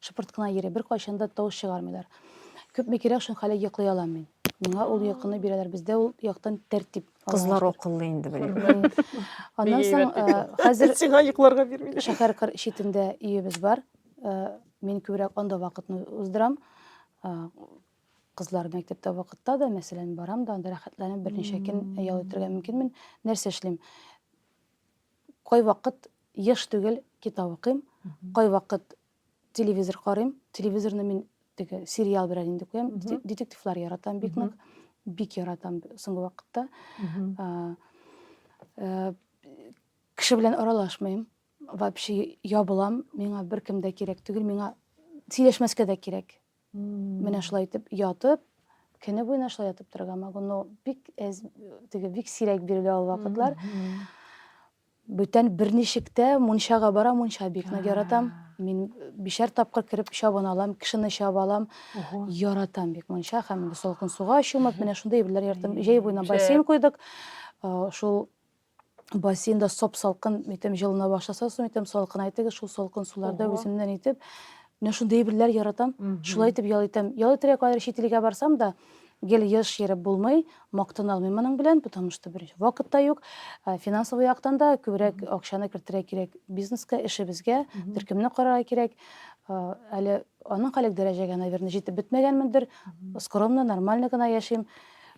Шыпырт кына йөри, беркайчан да тавыш чыгармыйлар. Күпме кирәк, шунка әле йоклый алам мин. Миңа ул йокыны бирәләр. Бездә ул яктан тәртип. Кызлар акыллы инде беләм. Аннан соң хәзер сиңа йокларга бирмиләр. Шәһәр кыр читендә өебез бар. Мин күбрәк анда вакытны уздырам. Кызлар мәктәптә вакытта да, мәсәлән, барам да, анда рәхәтләнеп берничә көн ял итәргә мөмкинмен. Нәрсә эшлим? Кайвакыт еш түгел китап укыйм, кайвакыт телевизор карыйм. Телевизорны мин теге сериал белән инде куям. Детективлар яратам бик нык. Бик яратам соңгы вакытта. Э, кеше белән аралашмыйм. Вообще ябылам. Миңа беркем дә кирәк түгел. Миңа сөйләшмәскә дә кирәк. Менә шулай итеп ятып, көне буена шулай ятып торырга могу, но бик әз, теге бик сирәк бирелә ул вакытлар. Бүтән берничектә мунчага бара, мунча бик нык яратам. Мин бишәр тапкыр кереп чабын алам, кешене чаба алам. Яратам бик мунча һәм инде салкын суга чумып, менә шундый әйберләр яратам. Җәй буена бассейн куйдык. Шул бассейнда соп-салкын итеп җылына башласа, соң итеп салкын әйтегез, шул салкын суларда үземнән итеп менә шундый әйберләр яратам. Шулай итеп ял итәм. Ял итәргә кадәр чит илгә барсам да, гел еш йөреп булмый, мактана алмыйм моның белән, потому что беренче вакыт та юк, э, финансовый яктан да күбрәк акчаны кертергә кирәк бизнеска, эшебезгә, төркемне карарга кирәк. Э, әле аның халек дәрәҗәгә, наверное, җитеп бетмәгәнмендер. Скромно, нормально гына яшим.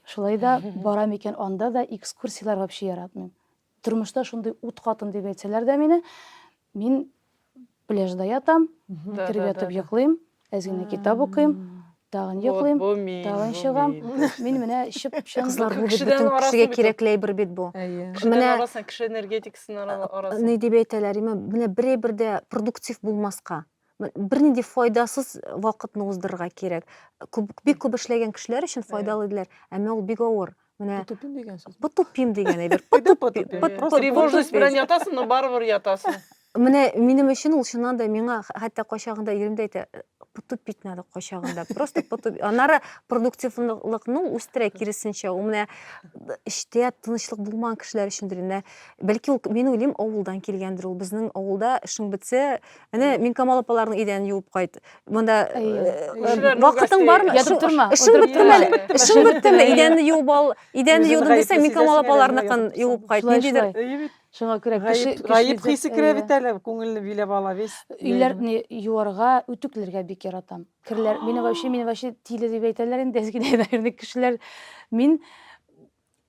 Шулай да барам икән анда да экскурсияләр вообще яратмыйм. Тормышта шундый ут катын дип әйтсәләр дә мине, мин пляжда ятам, кереп ятып йоклыйм, әз генә китап укыйм, тагын йоклыйм, тагын чыгам. Мин менә чып чын бөтен кешегә кирәкле әйбер бит бу. Менә кеше энергетикасын араласын. Ни дип әйтәләр, менә берәй бердә продуктив булмаска, бер нинди файдасыз вакытны уздырырга кирәк. Күп, бик күп эшләгән кешеләр өчен файдалы диләр, әмма ул бик авыр. Менә Потупим дигән сүз. потупим дигән әйбер. Тревожность белән ятасың, но барыбер ятасың. Менә минем өчен ул чыннан да миңа хәтта кайчагында ирем дә әйтә, потупить надо кайчагында. Просто потуп. Аннары продуктивлыкны үстерә киресенчә. Ул менә эштә тынычлык булмаган кешеләр өчендер. Менә бәлки ул мин уйлыйм, авылдан килгәндер ул. Безнең авылда эшең бетсә, Әнә мин Камал апаларның идәнен юып кайт. Монда вакытың бармы? Ятып торма. Эшең беттеме? Эшең беттеме? Идәнне юып ал. Идәнне юдым дисәң, мин Камал апаларныкын юып кайт. Ниндидер Шуңа күрә кеше гаеп хисе керә бит әле, күңелне биләп ала весь. Өйләрне юарга, үтүкләргә бик яратам. Керләр, мине вообще, мине вообще тиле дип әйтәләр инде, әзгидә әйбәләрне кешеләр. Мин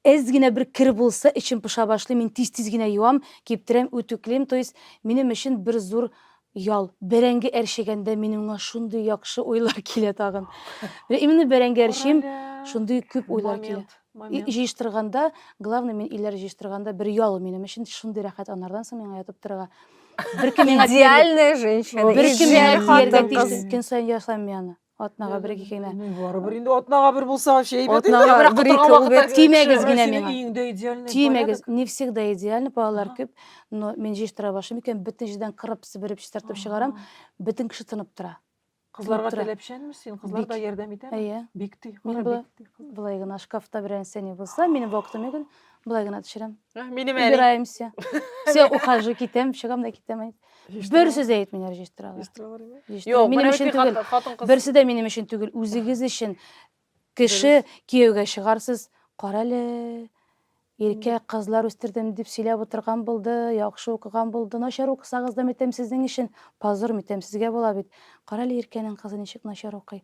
Әз генә бер кер булса, эчем поша башлый, мин тиз-тиз генә юам, киптерәм, үтүклим, то есть минем өчен бер зур ял. Бәрәңге әрчегәндә минемңа шундый яхшы уйлар килә тагын. Менә именно бәрәңге әрчим, шундый күп уйлар килә. Момент, И момент. җыештырганда, главный мин ийләр җыештырганда бер ял минем өчен шундый рәхәт анардан соң миңа ятып торырга. Бер кем миңа тияр, Идеальная женщина, бер кем миңа идеаль тияргә хатын тиеш, кыз. көн саен ясыйм мин аны. Атнага бер ике генә. Барыбер инде атнага бер булса вообще әйбәт. Атнага бер бер ике ул бит тимәгез генә миңа. Өеңдә идеально. Тимәгез, не всегда идеально, балалар күп, но мин җыештыра башлыйм икән, бөтен җирдән кырып, себереп, чистартып чыгарам, бөтен кеше тынып тора. Кызларга теләпчәнме син? Кызлар да ярдәм итәме? Әйе. Бик ти. Мин болай гына шкафта берәр нәрсә ни булса, мине вакытым икән, болай гына төшерәм. Минем әле. Убираемся. Все, ухожу, китәм, чыгам да китәм. бер сүз дә әйтмиләр җыештыралар Юк, минем өчен түгел берсе дә минем өчен түгел үзегез өчен кеше кияүгә чыгарсыз карале иркә кызлар үстердем дип сөйләп утырган булды яхшы укыган булды начар укысагыз да митәм сезнең өчен позор митәм сезгә була бит карале иркәнең кызы ничек начар укый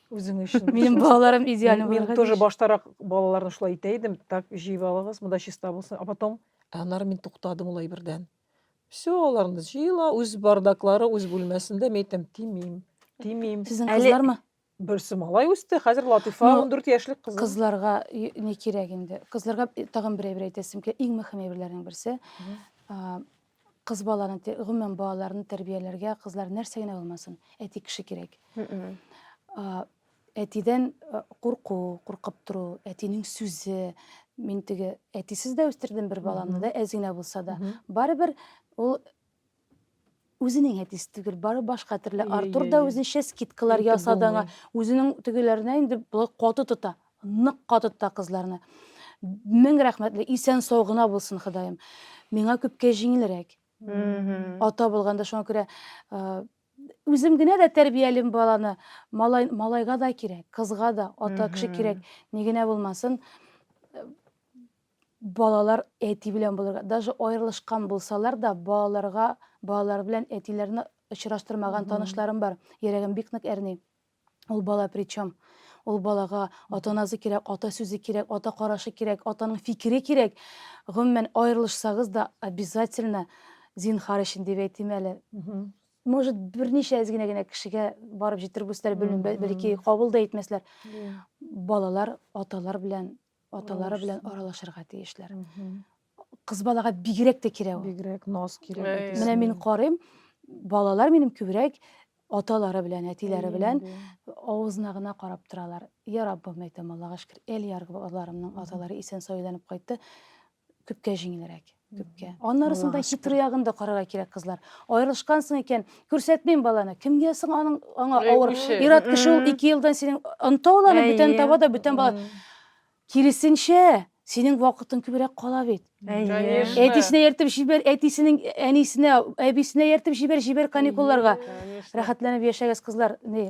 Үзең өчен. Минем балаларым идеаль булыр. Мин тоже баштарак балаларны шулай итә идем. Так, җыеп алыгыз, монда чиста булсын. А потом, аннары мин туктадым улай бердән. Все, аларны җыела, үз бардаклары, үз бүлмәсендә. Мин әйтәм, тимим, тимим. Сезнең кызлармы? Берсе малай үсте, хәзер Латифа 14 яшьлек кыз. Кызларга не кирәк инде. Кызларга тагын бер әйбер әйтәсем килә. Иң мөһим әйберләрнең берсе. Кыз баланы, те- гомумән, балаларны тәрбияләргә кызлар нәрсә генә булмасын, әти кеше кирәк. А, Әтидән э, курку, куркып тору, әтинең сүзе. Мин теге әтисез дә үстердем бер баламны да, әз генә булса да. Мгм. Барыбер ул үзенең әтисе түгел, бары башка төрле. Иә, Артур иә, да иә. үзенчә скидкалар Әйтеп ясады аңа. булмый. Үзенең тегеләренә инде болай каты тота. Нык катытта кызларны. Мең рәхмәтле, исән сау гына булсын Ходаем. Миңа күпкә җиңелрәк. Ата булганда шуңа күрә үзем генә дә тәрбиялим баланы. Малай, малайга да кирәк, кызга да ата кеше кирәк. Ни генә булмасын, балалар әти белән булырга, даже аерылышкан булсалар да, балаларга, балалар белән әтиләрне очраштырмаган танышларым бар. Йөрәгем бик нык әрни. Ул бала причем? Ул балага ата-анасы кирәк, ата сүзе кирәк, ата карашы кирәк, атаның фикере кирәк. Гомумән, аерылышсагыз да, обязательно зинхар өчен дип әйтим әле. Может, берничә әз генә генә кешегә барып җитер булсалар, белмим, бәл- бәлки кабул да итмәсләр. Балалар аталар белән, аталары белән аралашырга тиешләр. Кыз балага бигрәк тә кирәк ул. Бигрәк наз кирәк. Әй. Менә мин карыйм, балалар минем күбрәк аталары белән, әтиләре белән авызына гына карап торалар. Я Раббым, әйтәм, Аллага шөкер, Эльяр балаларымның Мгм. аталары исән сауланып кайтты. Күпкә җиңелрәк, күпкә. Аннарысын да Аллага шөкер. хитрый ягын да карарга кирәк, кызлар. Аерылышкансың икән, күрсәтмим баланы. Кемгә соң аның аңа Әй, авыр? үче. Ират кеше ул Мгм. ике елдан синең онта ул аны, Әйе. бүтән таба да, бүтән бала. Мгм. Киресенчә, синең вакытың күбрәк кала бит. Конечно. Әтисенә йөртеп җибәр, әтисенең әнисенә, әбисенә йөртеп җибәр, җибәр каникулларга. Конечно. Рәхәтләнеп яшәгез, кызлар. Ни,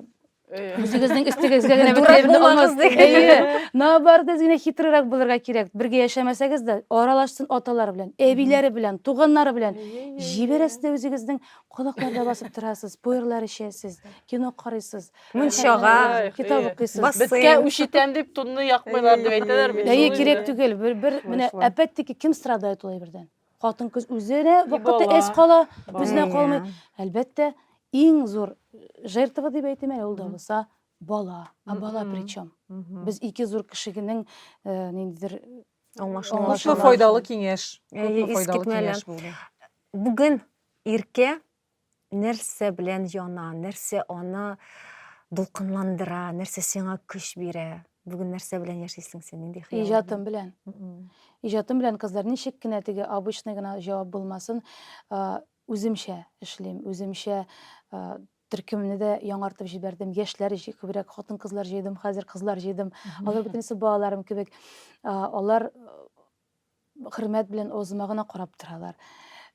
Э, үзегезнең өстегезгә генә Дурак бөтенләй генә булмагыз, алмас. диген. Әйе. Наоборот, без генә хитрерәк булырга кирәк. Бергә яшәмәсәгез дә, аралашсын аталары белән, әбиләре белән, туганнары белән. Әйе, әйе, Җибәрәсез дә үзегезнең колакларда басып торасыз, пуэрлар эчәсез, кино карыйсыз. мунчага Ай, китап э, укыйсыз Бас- Беткә Бассейн. үч итәм дип тунны якмыйлар дип әйтәләр бит. әйе Шул кирәк инде. түгел бер бер Шулай, менә шулай. әпәттеки кем страдает ул әйбердән хатын кыз үзе генә И вакытта бала. эс кала Бала. үзенә Әйе. калмый әлбәттә иң зур жертва дип әйтим әле ул да Мгм. булса бала а бала Мгм. причем Мгм. без ике зур кешегенең э, ниндидер Аңлашылмаучан. Күпме Аңлашылмаучан. файдалы киңәш. Әйе, Күпме файдалы искитмәле. киңәш булды. Бүген иркә Нәрсә белән яна, нәрсә аны дулкынландыра, нәрсә сиңа көч бирә? Бүген нәрсә белән яшисең син, нинди хыяллар? Иҗатым белән. Иҗатым белән, кызлар, ничек кенә теге обычный гына җавап булмасын, үземчә эшлим, үземчә төркемне дә яңартып җибәрдем, яшьләр күбрәк хатын-кызлар җыйдым, хәзер кызлар җыйдым. Алар бөтенесе балаларым кебек. Алар хөрмәт белән авызыма гына карап торалар.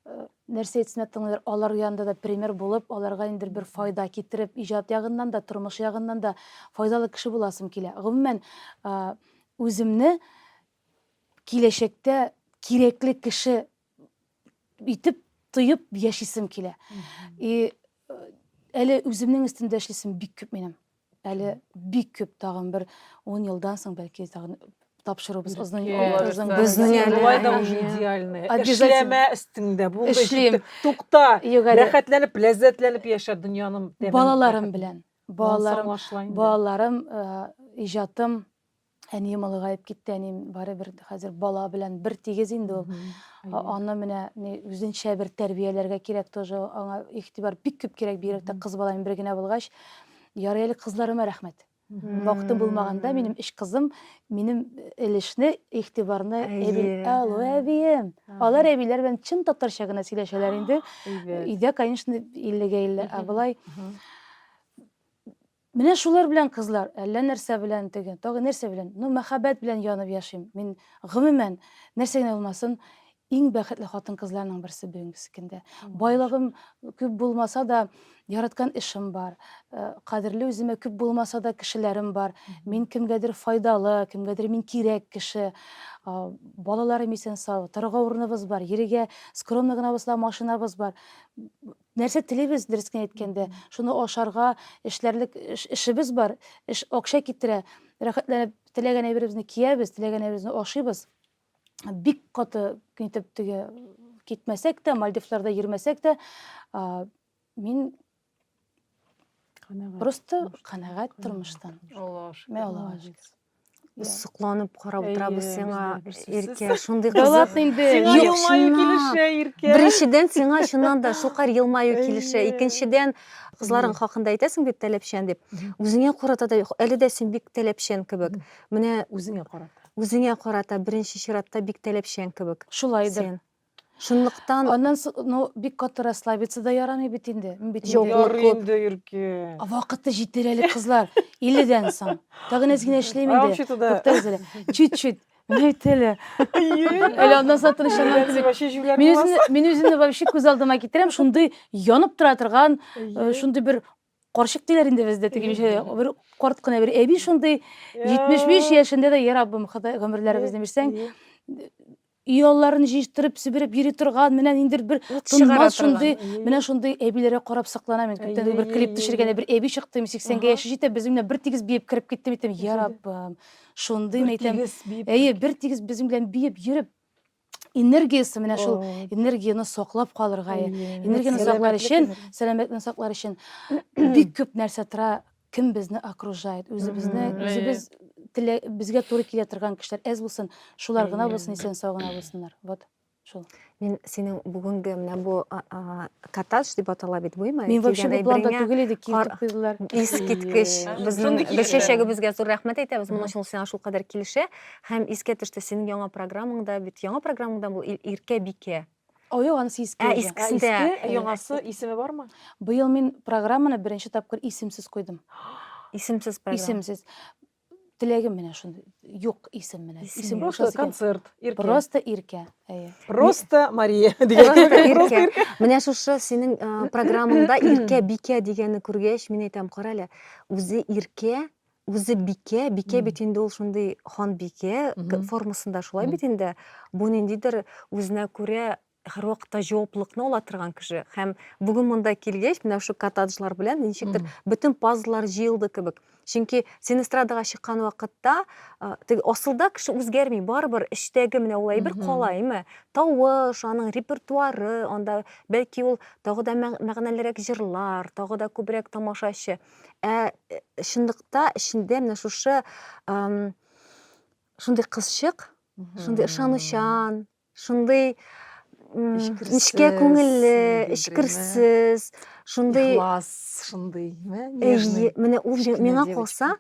Э, нәрсә әйтсәм дә тыңлыйлар. Алар янында да пример булып, аларга инде бер файда китереп, иҗат ягыннан да, тормыш ягыннан да файдалы кеше буласым килә. Гомумән, э, үземне киләчәктә кирәкле кеше итеп тоеп яшисем килә и э, әле үземнең өстендә эшлисем бик күп минем әле бик күп тагын бер он елдан соң бәлки тагын тапшырубыз озын озын безнең әле болай да уже идеальный эшләмә өстеңдә булды эшлим тукта рәхәтләнеп ләззәтләнеп яшә дөньяның балаларым белән балаларым балаларым э, иҗатым Әнием олыгаеп китте, әнием барыбер хәзер бала белән бер тигез инде ул. Аны менә үзенчә бер тәрбияләргә кирәк тоже, аңа игътибар бик күп кирәк, бигрәк тә кыз баланың бер генә булгач. Ярый әле кызларыма рәхмәт. Вакытым булмаганда минем өч кызым минем өлешне, игътибарны әби, алу әбием. Алар әбиләр белән чын татарча гына сөйләшәләр инде. Өйдә, конечно, иллегә илле, ә болай Менә шулар белән кызлар, әллә нәрсә белән теге, тагы нәрсә белән, ну, мәхәббәт белән янып яшим. Мин, гомумән, нәрсә генә булмасын, иң бәхетле хатын-кызларның берсе бүгенге көндә. Байлыгым күп булмаса да, яраткан эшем бар, кадерле үземә күп булмаса да кешеләрем бар, мин кемгәдер файдалы, кемгәдер мин кирәк кеше, балаларым исән-сау, торырга урыныбыз бар, йөрергә скромный гына булса да машинабыз бар. Нәрсә телибез, дөрес кенә әйткәндә, шуны ашарга, эшләрлек эшебез бар, эш акча китерә, рәхәтләнеп теләгән әйберебезне киябез, теләгән әйберебезне ашыйбыз. Бик каты итеп теге китмәсәк тә, Мальдивларда йөрмәсәк тә, мин Просто канәгать тормыштан. Аллаһуа шөкер. Аллаһуа шөкер. Без сокланып карап утырабыз сиңа, Иркә, шундый кызык. Дәүләт инде. Сиңа елмаю килешә, Иркә. Беренчедән, сиңа чыннан да шулкадәр елмаю килешә. Икенчедән, кызларың хакында әйтәсең бит таләпчән дип. Үзеңә карата да әле дә син бик таләпчән кебек. Менә үзеңә карата. Үзеңә карата беренче чиратта бик таләпчән кебек. Шулайдыр. Шунлыктан... Аннан соң, ну, бик каты расслабиться да ярамый бит инде. Мин бит инде... Ярый инде, Ирке. Вакыты җитер әле, кызлар. 50 дән соң. Тагын әз генә эшлим инде. Вообще туда. Туктагыз әле. Чуть-чуть. Менә бит әле. Әле аннан соң тынычланам кебек. Вообще җүләр Мин үземне, мин үземне вообще күз алдыма китерәм, шундый янып тора торган, э, шундый бер карчык диләр инде бездә теге ничә бер карт кына бер әби шундый 75 яшендә дә, я Раббым, Ходай гомерләребезне бирсәң, Ояларын җыештырып, себереп йөри торган, менә ниндидер бер Ут чыгара тынмас торган. шундый, менә шундый әбиләргә карап сокланам мин. Күптән түгел бер клип төшергәндә бер әби чыкты, мин 80 гә яше җитә, безнең белән бер тигез биеп кереп китте, мин әйтәм, я Раббым, шундый, мин әйтәм, Тигез биеп. әйе, бер тигез безнең белән биеп йөреп, энергиясе, менә шул О. энергияне саклап калырга, энергияне саклар Сәламәтлек өчен, энергия. сәламәтлекне саклар өчен бик күп нәрсә тора, кем безне окружает, үзебезне, үзебез теле безгә туры килә торган кешеләр әз булсын, шулар гына булсын, исән сау гына булсыннар. Вот. Шул. Мин синең бүгенге менә бу катаж дип атала бит буйма. Мин вообще бу планда түгел иде, килдек кызлар. Искиткеч. Безнең бер чәчәгебезгә зур рәхмәт әйтәбез. Моның өчен сиңа шул кадәр килешә. Һәм искә төште синең яңа программаңда бит. Яңа программаңда бу Иркә бикә. Аю аны иске Ә, өйдә. искесен дә. Иске, ә яңасы исеме бармы? Быел мин программаны беренче тапкыр исемсез куйдым. Исемсез программа. Исемсез. Теләгем менә шундый. Юк исем менә. Исем Исем юк. Просто кушасы килә. концерт, иркә. Просто Иркә. Әйе. Просто Мария дигән. Просто кебек, просто Иркә. Иркә. Менә шушы синең э, программаңда Иркә Бикә дигәнне күргәч, мин әйтәм, кара әле, үзе Иркә, Үзе бикә, бикә бит инде ул шундый ханбикә формасында шулай бит инде. Бу ниндидер үзенә күрә һәрвакытта җаваплылыкны ала торган кеше. Һәм бүген монда килгәч, менә шушы коттеджлар белән ничектер бөтен пазллар җыелды кебек. Чөнки син эстрадага чыккан вакытта, теге асылда кеше үзгәрми, барыбер эчтәге менә ул әйбер кала, әйме? Тавыш, аның репертуары, анда бәлки ул тагы да мәгънәлерәк җырлар, тагы да күбрәк тамашачы. Ә э, чынлыкта эчендә менә шушы шундый кызчык, шундый ышанучан, шундый нечкә күңелле, эчкерсез, шундый ихлас, шундый, менә ул миңа калса,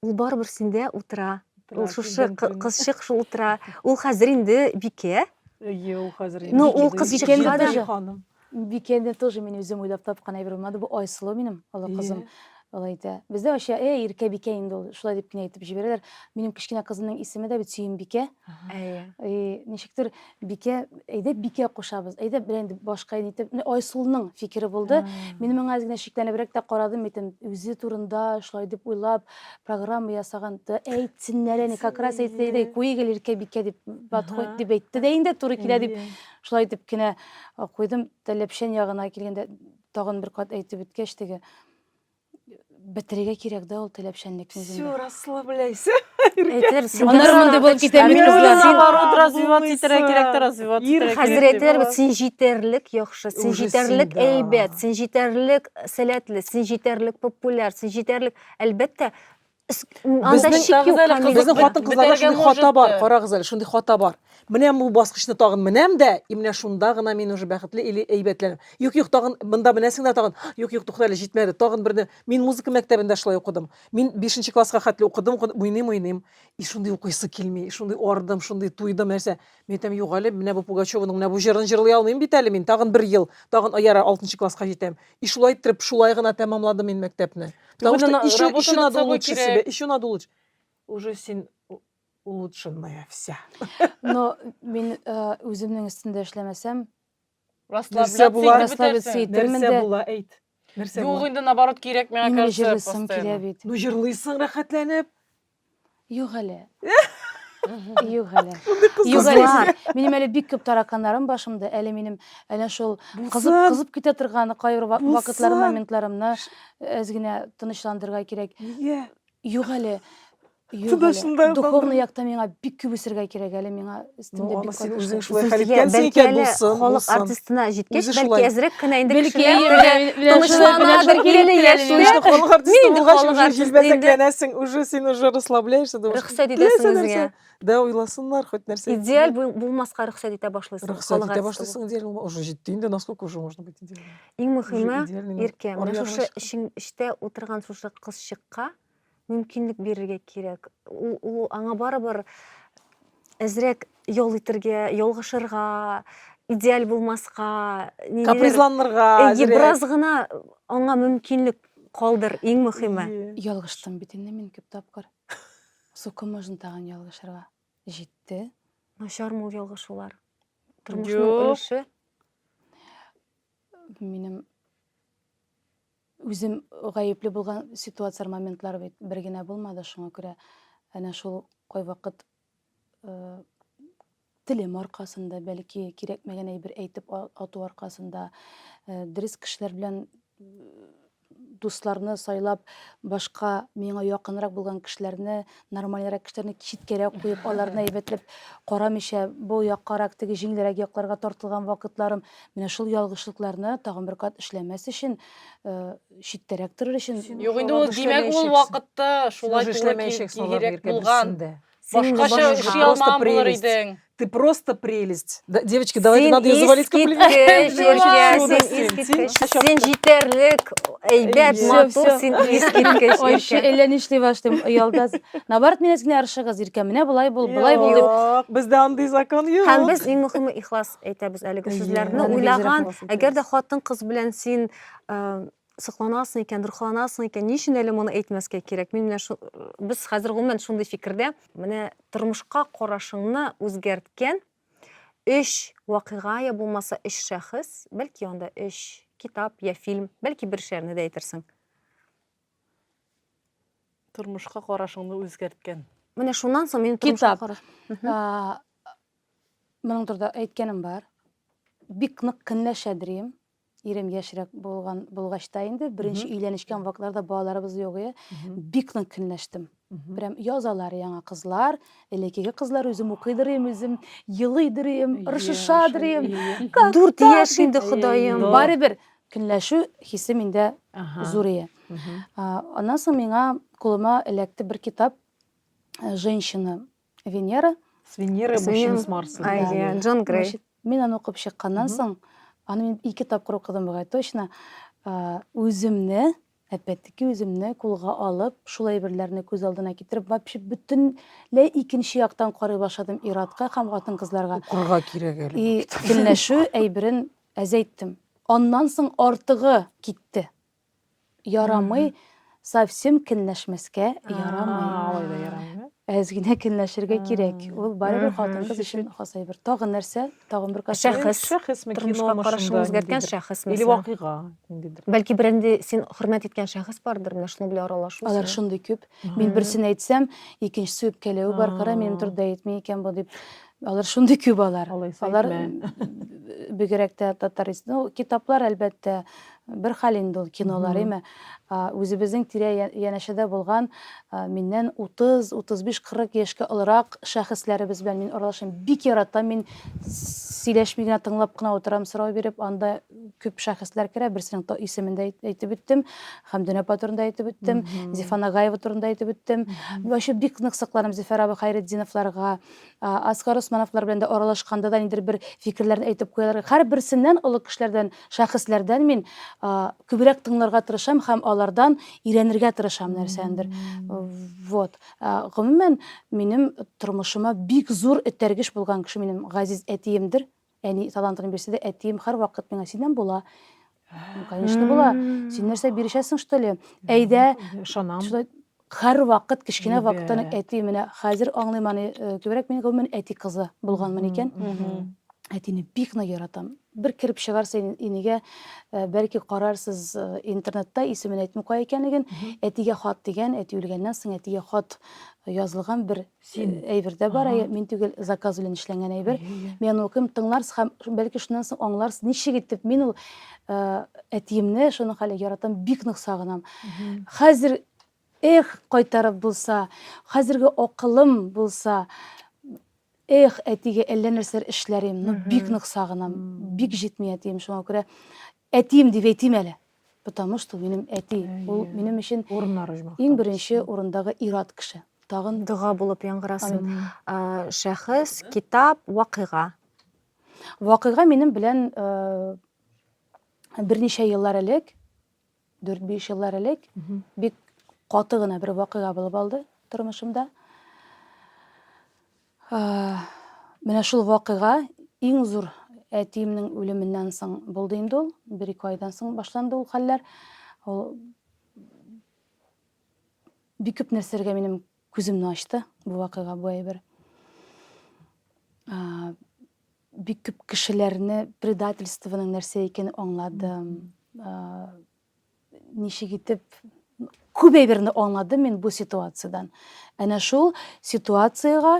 Ул барыбер синдә утыра. Ул шушы кызчык шул утыра. Ул хәзер инде бикә. Әйе, ул хәзер инде. Ну, ул кызчыкка да ханым. Бикәне тоже мин үзем уйлап тапкан әйбер булмады. Бу Айсылу минем олы кызым. Алай әйтә. Бездә вообще, "Эй, иркә бикә инде ул", шулай дип кенә әйтеп җибәрәләр. Минем кечкенә кызымның исеме дә бит Сөембикә. Бикә. Әйе. И, ничектер бикә, әйдә бикә кушабыз, әйдә бер инде башка итеп, менә Айсулның фикере булды. Мин моңа генә шикләнебрәк тә карадым, әйтем, үзе турында шулай дип уйлап, программа ясаган, да әйтсеннәр әни, как раз әйтте, әйдә, куегел иркә бикә дип, батхой дип әйтте дә инде, туры килә дип, шулай итеп кенә куйдым, тәләпчән ягына килгәндә, тагын бер кат әйтеп үткәч теге, Бетерергә кирәк да ул теләпчәнлекне Все, үзендә. расслабляйся. Әйтер, син Аннары нәрсә монда булып китә бит Мин кызлар. уйлап- Наоборот, развиваться Улысы. итәргә кирәк тә, развиваться Ир итәргә Хәзер кирәк тә. әйтәләр бит, син җитәрлек яхшы, син Уже җитәрлек син, да. әйбәт, син җитәрлек сәләтле, син җитәрлек популяр, син җитәрлек. Әлбәттә, безнең хатын кызларда шундый хата бар карагыз әле шундый хата бар менә бу баскычны тагын менәм дә и менә шунда гына мин уже бәхетле или әйбәтләнәм юк юк тагын монда менәсең дә тагын юк юк тукта әле җитмәде тагын берне мин музыка мәктәбендә шулай укыдым мин бишенче класска хәтле укыдым уйныйм уйныйм и шундый укыйсы килми шундый ардым шундый туйдым нәрсә Мин әйтәм, юк әле, менә бу Пугачеваның менә бу җырын җырлый алмыйм бит әле мин, тагын бер ел, тагын ярар алтынчы класска җитәм. И шулай иттереп, шулай гына тәмамладым мин мәктәпне. Потому что Түгел, еще, работа еще над надо собой улучшить кирәк. себя, еще надо улучшить. Уже син у- улучшенная вся. Но мин э, үземнең өстендә эшләмәсәм, Нәрсә була? Расслабляться итәрмен Нәрсә дә. була, әйт. Нәрсә Юк була? инде, наоборот, кирәк, миңа Именно кажется, җырлыйсым килә постоянно. бит. Ну, җырлыйсың рәхәтләнеп. Юк әле. Юк әле. Юк әле. Кызлар. Минем әле бик күп тараканнарым башымда. Әле минем әле шул кызып, Булсын. кызып китә торган кайбер ва- Булсын. вакытларым, моментларымны әз генә тынычландырырга кирәк. Нигә? Юк әле. Юк, әле. Духовный якта миңа бик күп үсергә кирәк әле миңа өстемдә бик күп. Син үзең шулай хәл иткәнсең икән булсын. Халык артистына җиткәч, бәлки әзрәк кенә инде кешеләр тынычланадыр килде яшьләр. Халык артисты булгач, уже җилбәзәкләнәсең, уже син уже расслабляешься. Рөхсәт итәсең үзеңә. Да, уйласыннар хоть нәрсә. Идеаль булмаска рөхсәт итә башлыйсың. Рөхсәт итә башлыйсың идеаль булма. Уже җитте инде, насколько уже можно быть идеальным. Иң мөһиме, Иркә, менә шушы эчтә утырган шушы кызчыкка мөмкинлек бирергә кирәк. Ул, ул аңа барыбер әзрәк ял итергә, ялгышырга, идеаль булмаска, капризланырга, әйе, бераз гына аңа мөмкинлек калдыр, иң мөхиме. Ялгыштым бит инде мин күп тапкыр. Сука, можно тагын ялгышырга. Җитте. Начармы ул ялгышулар? Тормышның өлеше? Минем Үзем гаепле булган ситуацияләр, моментлар бит бер генә булмады, шуңа күрә әнә шул кайвакыт телем аркасында, бәлки кирәкмәгән әйбер әйтеп ату аркасында, дөрес кешеләр белән дусларны сайлап, башка миңа якынрак булган кешеләрне Нормальрәк кешеләрне читкәрәк куеп, аларны әйбәтләп карамыйча, бу яккарак, теге җиңелрәк якларга тартылган вакытларым, менә шул ялгышлыкларны тагын бер кат эшләмәс өчен, э, читтәрәк торыр өчен. Юк инде ул, димәк, ул вакытта шулай туры кирәк булган. Башкача эшли алмаган булыр идең. Ты просто прелесть. Да, девочки, давайте Син надо ее завалить искиткеч, комплиментами. Девочки, Юля, чудо син син, искиткеч. тин. Син җитәрлек, әйбәт, Всё, матур, всё. син искиткеч. Ой, еще Иркә. әллә нишли башлыйм, оялдас. Наоборот, менә генә арышыгыз, Иркә, менә болай бул, болай бул дип. Юк, Бездә андый закон юк. Һәм без иң мөхиме ихлас әйтәбез әлеге Әйе, сүзләрне әлеге уйлаган. җыракны ихлас Әгәр дә әйтәбез. хатын-кыз белән син э, Сокланасың икән, дурхаланасың икән, ни өчен әле моны әйтмәскә кирәк? Мин менә шу, без хәзер гомумән шундый фикердә. Менә тормышка карашыңны үзгәрткән өч вакыйга я булмаса өч шәхес, бәлки анда өч китап я фильм, бәлки бер шигырьне дә әйтерсең. Тормышка карашыңны үзгәрткән. Менә шуннан соң минем тормышка Китап. караш. Мгм. А, Моның турында әйткәнем бар. Бик нык көнләшә дрим. Ирем яшьрәк булган булгач та инде беренче өйләнешкән вакытларда балаларыбыз юк иде. Бик нык көнләштем. Прям язалар яңа кызлар, элеккеге кызлар үзем укыйдыр идем, үзем елыйдыр идем, рышышадыр идем. Как Дүрт так яшь дип. инде, Ходаем. Ну. Барыбер көнләшү хисе миндә Ага. зур иде. Мгм. А, Аннан соң миңа кулыма эләкте бер китап э, Женщина Венера. С Венерой мужчина с Марсом. Иә, Джон Грей. Мин аны укып чыкканнан соң, аны мин ике тапкыр укыдым бугай, точно. Үземне, әлбәттәки үземне кулга алып, шул әйберләрне күз алдына китереп, вообще бөтенләй икенче яктан карый башладым иратка һәм хатын-кызларга. Укырга кирәк әле. И килнәшү әйберен әзәйттем. Аннан соң артыгы китте. Ярамый, совсем кенләшмәскә ярамый. Алай да ярамый. Әз генә кенләшергә кирәк. Ул барыбер хатын-кыз өчен хас әйбер. Тагын нәрсә? Тагын бер кассет. Шәхес. Шәхесме, кино машинда. Үзгәрткән шәхес мәсәлән. Или вакыйга. Бәлки бер инде син хөрмәт иткән шәхес бардыр, менә шуның белән аралашу. Алар шундый күп. Мин берсен әйтсәм, икенчесе үпкәләве бар, кара, минем турыда әйтми икән бу дип. Алар шундый күп алар. Алар бигрәк тә татарис. Ну, китаплар әлбәттә бер хәл инде ул кинолар, әйме. Үзебезнең тирә янәшәдә булган миннән 30, 35, 40 яшькә олырак шәхесләребез белән мин аралашам. Бик яратам мин сөйләшми генә тыңлап кына утырам сорау биреп. Анда күп шәхесләр керә. Берсенең то исемен дә әйтеп үттем. Хәмдүн апа турында әйтеп үттем. Зифа Нагаева турында әйтеп үттем. Вәче бик нык сокланам Зифа Рабы Хайретдиновларга. Асгар Усмановлар белән дә аралашканда да нидер бер фикерләрен әйтеп куялар. Һәрберсеннән, олы кешеләрдән, шәхесләрдән мин күбрәк тыңларга тырышам һәм алардан өйрәнергә тырышам нәрсәндер. Вот. Гомумән, минем тормышыма бик зур этәргеч булган кеше минем газиз әтиемдер. Әни талантын бирсә дә, әтием һәрвакыт миңа синнән була. Ну, конечно, була. Син нәрсә бирешәсең, что ли? Әйдә, Ышанам. шулай һәрвакыт кечкенә Әйбәт. вакыттан ук әти менә хәзер аңлыйм аны. Э, Күбрәк мин гомумән әти кызы булганмын икән. Мгм. Әтине бик нык яратам. Бер кереп чыгарса ин- инегә, э, бәлки карарсыз э, интернетта, исемен әйтмим кая икәнлеген. Әтигә хат дигән, әти үлгәннән соң әтигә хат язылган бер Син әйбер дә бар, әйе, мин түгел, заказ белән эшләнгән әйбер. Мин аны укыйм, тыңларсыз һәм бәлки шуннан соң аңларсыз, ничек итеп мин ул э, әтиемне шуның хәле яратам, бик нык сагынам. Хәзер эх, кайтарып булса, хәзерге акылым булса, эх, әтигә әллә нәрсәләр эшләр идем, ну бик нык сагынам, бик җитми әтием шуңа күрә. Әтием дип әйтим әле, потому что ул минем әти, ул минем өчен иң беренче урындагы ир-ат кеше. Тагын дога булып яңгырасын. Шәхес, китап, вакыйга. Вакыйга минем белән берничә еллар элек, 4-5 еллар элек бик каты гына бер вакыйга булып алды тормышымда. Менә шул вакыйга иң зур әтиемнең үлеменнән соң булды инде ул. Бер-ике айдан соң башланды ул хәлләр. Ул бик күп нәрсәләргә минем күземне ачты бу вакыйга, бу әйбер. Бик күп кешеләрне предательствоның нәрсә икәнен аңладым. Ничек итеп күп әйберне аңладым мин бу ситуациядән. Әнә шул ситуациягә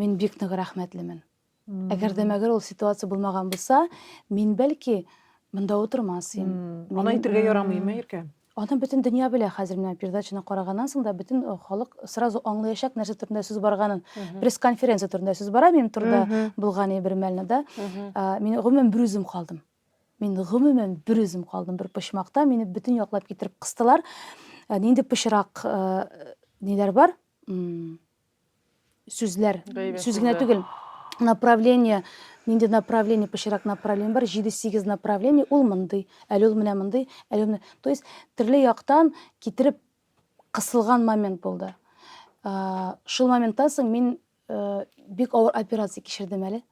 мин бик нык рәхмәтлемен. Әгәр дә мәгәр ул ситуация булмаган булса, мин бәлки монда утырмас идем. Аны әйтергә ярамый, ме Иркә? Аны бөтен дөнья белә хәзер менә передачаны караганнан соң да бөтен э, халык сразу аңлаячак нәрсә турында сүз барганын. Пресс-конференция турында сүз бара минем турда булган бер мәлне да. Мин гомумән берүзем калдым. Мин гомумән бер үзем калдым бер почмакта, мине бөтен яклап китереп кыстылар. Ә, нинди пычрак ә, ниләр бар? М, Сүзләр, Гайбәт сүз генә сүзләр. түгел. Направление, нинди направление, пычрак направление бар, 7-8 направление, ул мондый, әле ул менә мондый, әле ул менә. То есть төрле яктан китереп кысылган момент булды. Ә, Шул моменттан соң мин Э, бик авыр операция кичердем әле.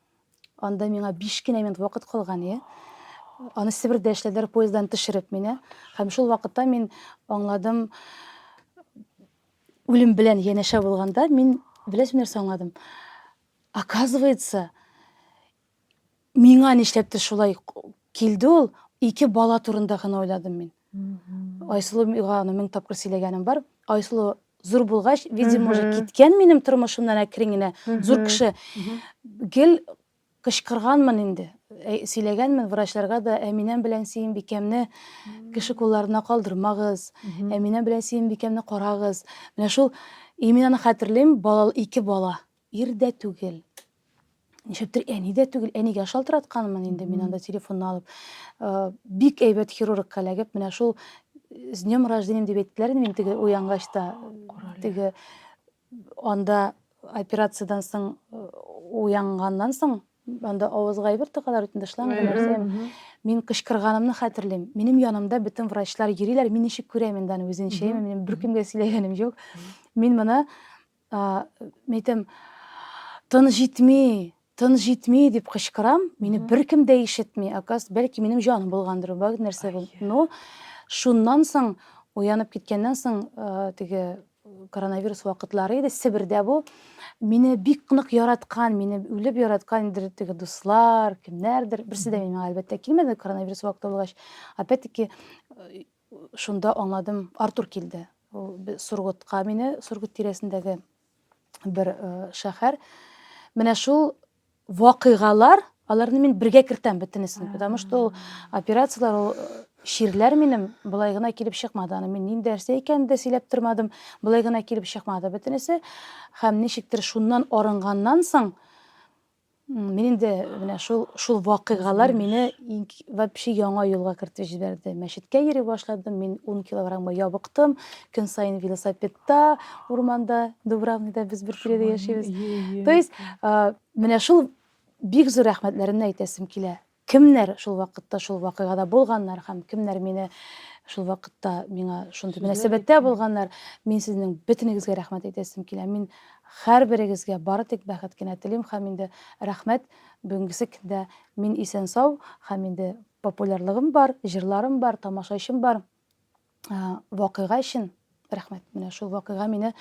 Анда миңа 5 кенә минут вакыт калган, иә. Аны Себердә эшләделәр поезддан төшереп мине. Һәм шул вакытта мин аңладым, үлем белән янәшә булганда мин беләсең нәрсә аңладым. Оказывается, Миңа нишләптер шулай килде ул, ике бала турында гына уйладым мин. Айсылуга аны мең тапкыр сөйләгәнем бар. Айсылу зур булгач, видимо, уже киткән минем тормышымнан әкрен генә. Зур кеше. Гел кычкырганмын инде. Ә, сөйләгәнмен врачларга да, Әминәм белән Сөембикәмне кеше кулларына калдырмагыз. Әминәм белән Сөембикәмне карагыз. Менә шул именно хәтерлим, бала, ике бала. Ирдә түгел. Нишәптер әни дә түгел, әнигә шалтыратканмын инде мин анда телефонны алып. Э, бик әйбәт хирургка эләгеп, менә шул э, с днем рождения дип әйттеләр инде мин теге уянгач та. Теге анда операциядан соң э, уянганнан соң анда авызга әйбер тыгалар бит инде шланг нәрсә. Мин кычкырганымны хәтерлим. Минем янымда бөтен врачлар йөриләр, мин ничек күрәм инде аны үзенчә, минем беркемгә сөйләгәнем юк. Мин моны Ә, мин әйтәм, Тын җитми, тын җитми, дип кычкырам. Мине беркем дә ишетми. Оказывается, бәлки минем җаным булгандыр, бәлки нәрсә бул. Но шуннан соң, уянып киткәннән соң, э, теге коронавирус вакытлары иде, Себердә бу. Мине бик нык яраткан, мине үлеп яраткан инде теге дуслар, кемнәрдер, берсе дә миңа әлбәттә килмәде коронавирус вакыты булгач. Опять-таки, э, Шунда аңладым, Артур килде. Ул Сургутка мине, Сургут тирәсендәге бер шәһәр. Менә шул вакыйгалар, аларны мин бергә кертәм бөтенесен, потому что ул операцияләр, ул чирләр минем былай гына килеп чыкмады. Аны мин нинди нәрсә икәнен дә сөйләп тормадым. Былай гына килеп чыкмады бөтенесе. Һәм ничектер шуннан арынганнан соң Мин инде менә шул шул вакыйгалар мине вообще яңа юлга кертеп җибәрде. Мәчеткә йөри башладым, мин 10 килограммга ябыктым. Көн саен велосипедта, урманда, Дубравныйда без бер тирәдә яшибез. То есть, менә шул бик зур рәхмәтләремне әйтәсем килә. Кемнәр шул вакытта шул вакыйгада булганнар һәм кемнәр мине шул вакытта миңа шундый мөнәсәбәттә булганнар, мин сезнең бөтенегезгә рәхмәт әйтәсем килә. Мин һәрберегезгә бары тик бәхет кенә телим һәм инде рәхмәт, бүгенгесе көндә мин исән-сау һәм инде популярлыгым бар, җырларым бар, тамашачым бар. Вакыйга өчен рәхмәт. Менә шул вакыйга мине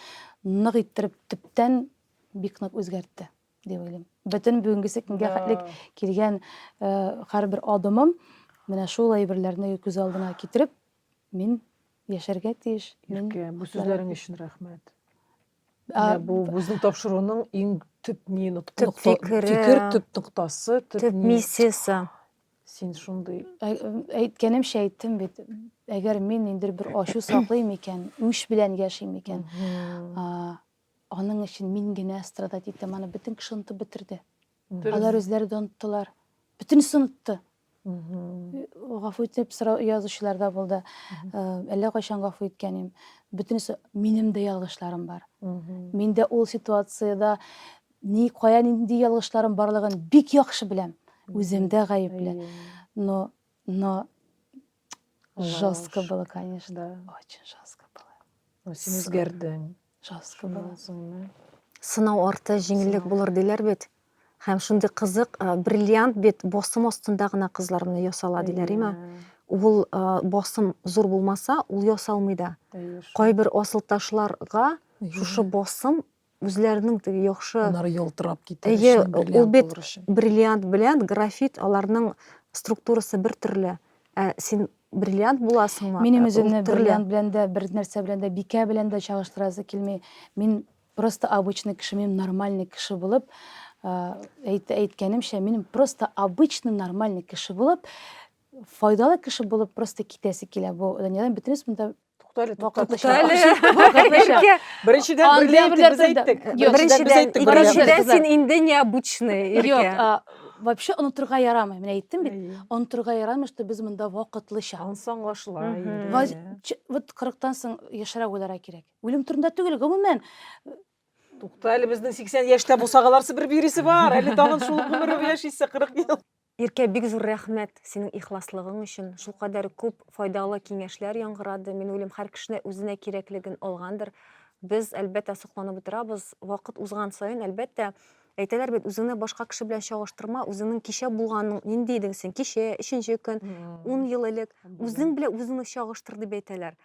нык иттереп төптән бик нык үзгәртте. дип уйлыйм бөтен бүгенгесе көнгә хәтлек килгән һәрбер адымым менә шул әйберләрне күз алдына китереп мин яшәргә тиеш иркә бу сүзләрең өчен рәхмәт бу безнең тапшыруның иң төп не төп фикере фикер төп ноктасы төп миссиясе син шундый әйткәнемчә әйттем бит әгәр мин инде бер ачу саклыйм икән үч белән яшим икән Аның өчен мин генә страдать итәм, аны бөтен кеше онытып бетерде. Алар үзләре дә оныттылар. Бөтенесе онытты. Гафу итеп сорау язучылар да булды. Әллә кайчан гафу иткән идем. Бөтенесе минем дә ялгышларым бар. Мин дә ул ситуациядә ни кая нинди ялгышларым барлыгын бик яхшы беләм. Үзем дә гаепле. Но но Жестко было, конечно. Да. Очень жестко было. Ну, син үзгәрдең. Жестко было. Сынау арты җиңеллек булыр диләр бит. Һәм шундый кызык, бриллиант бит босым астында гына кызлар моны ясала диләр, име? Ул босым зур булмаса, ул ясалмый да. Кайбер асылташларга шушы босым үзләренең теге яхшы Аннары ялтырап китәр Әйе, өчен, ул бриллиант бит булыр өчен. бриллиант белән графит аларның структурасы бер төрле. Ә син бриллиант буласыңмы? Минем Ә, ул үземне төрле. бриллиант белән дә, бер нәрсә белән дә, бикә белән дә чагыштырасы килми. Мин просто обычный кеше, мин нормальный кеше булып, ә, әйт, әйткәнемчә, мин просто обычный нормальный кеше булып, файдалы кеше булып просто китәсе килә. Бу дөньядан бөтенесе монда Тукта әле, вакытныша. Вакытныша. Беренчедән бриллианты без әйттек. Беренчедән, икенчедән син инде необычный, Иркә. Вообще онытырга ярамый. Менә әйттем бит, онытырга ярамый, что без монда вакытлыча. Ансаң ашла инде. Вот 40-тан соң яшәрә уйлара кирәк. Үлем турында түгел, гомумән. Тукта әле безнең 80 яшьтә булсагаларсы бер биресе бар. Әле тагын шул гомер яшисе 40 ел. Иркә бик зур рәхмәт синең ихласлыгың өчен, шулкадәр күп файдалы киңәшләр яңгырады, мин уйлыйм һәр кешене үзенә кирәклеген алгандыр, без әлбәттә сокланып утырабыз, вакыт узган саен әлбәттә, әйтәләр бит үзеңне башка кеше белән чагыштырма, үзеңнең кичә булганың нинди идең син кичә, өченче көн, ун ел элек, үзең белән үзеңне чагыштыр дип әйтәләр.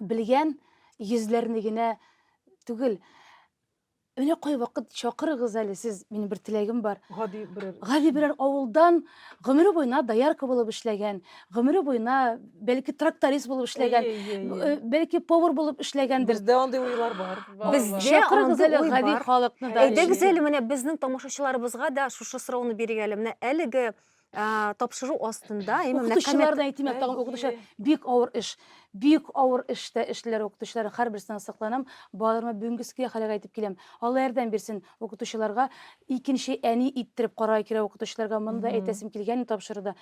белгән йөзләрне генә түгел. Менә кай вакыт чакырыгыз әле сез, минем бер теләгем бар. Гади берәр. Гади берәр авылдан гомере буена доярка булып эшләгән, гомере буена бәлки тракторист булып эшләгән, э, бәлки повар булып эшләгәндер. Бездә андый уйлар бар. Бездә Чакырыгыз андый әле уй гади бар. халыкны да. Әйдәгез әле менә безнең тамашачыларыбызга да шушы сорауны бирик әле. Менә әлеге тапшыру астында укытучылар да әйтим тагын укытучы бик авыр эш бик авыр эштә эшлиләр укытучылар һәрберсенә сокланам балаларыма бүгенге ске хәлгә әйтеп киләм алла ярдәм бирсен укытучыларга икенче әни иттереп карар кирәк укытучыларга моны да әйтәсем килгән тапшыруда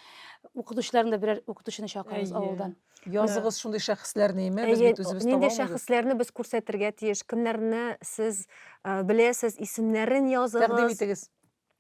укытучыларны да берәр укытучыны чакырыгыз авылдан языгыз шундый шәхесләрне име без бит үзебез нинди шәхесләрне без күрсәтергә тиеш кемнәрне сез беләсез исемнәрен языгыз тәкъдим итегез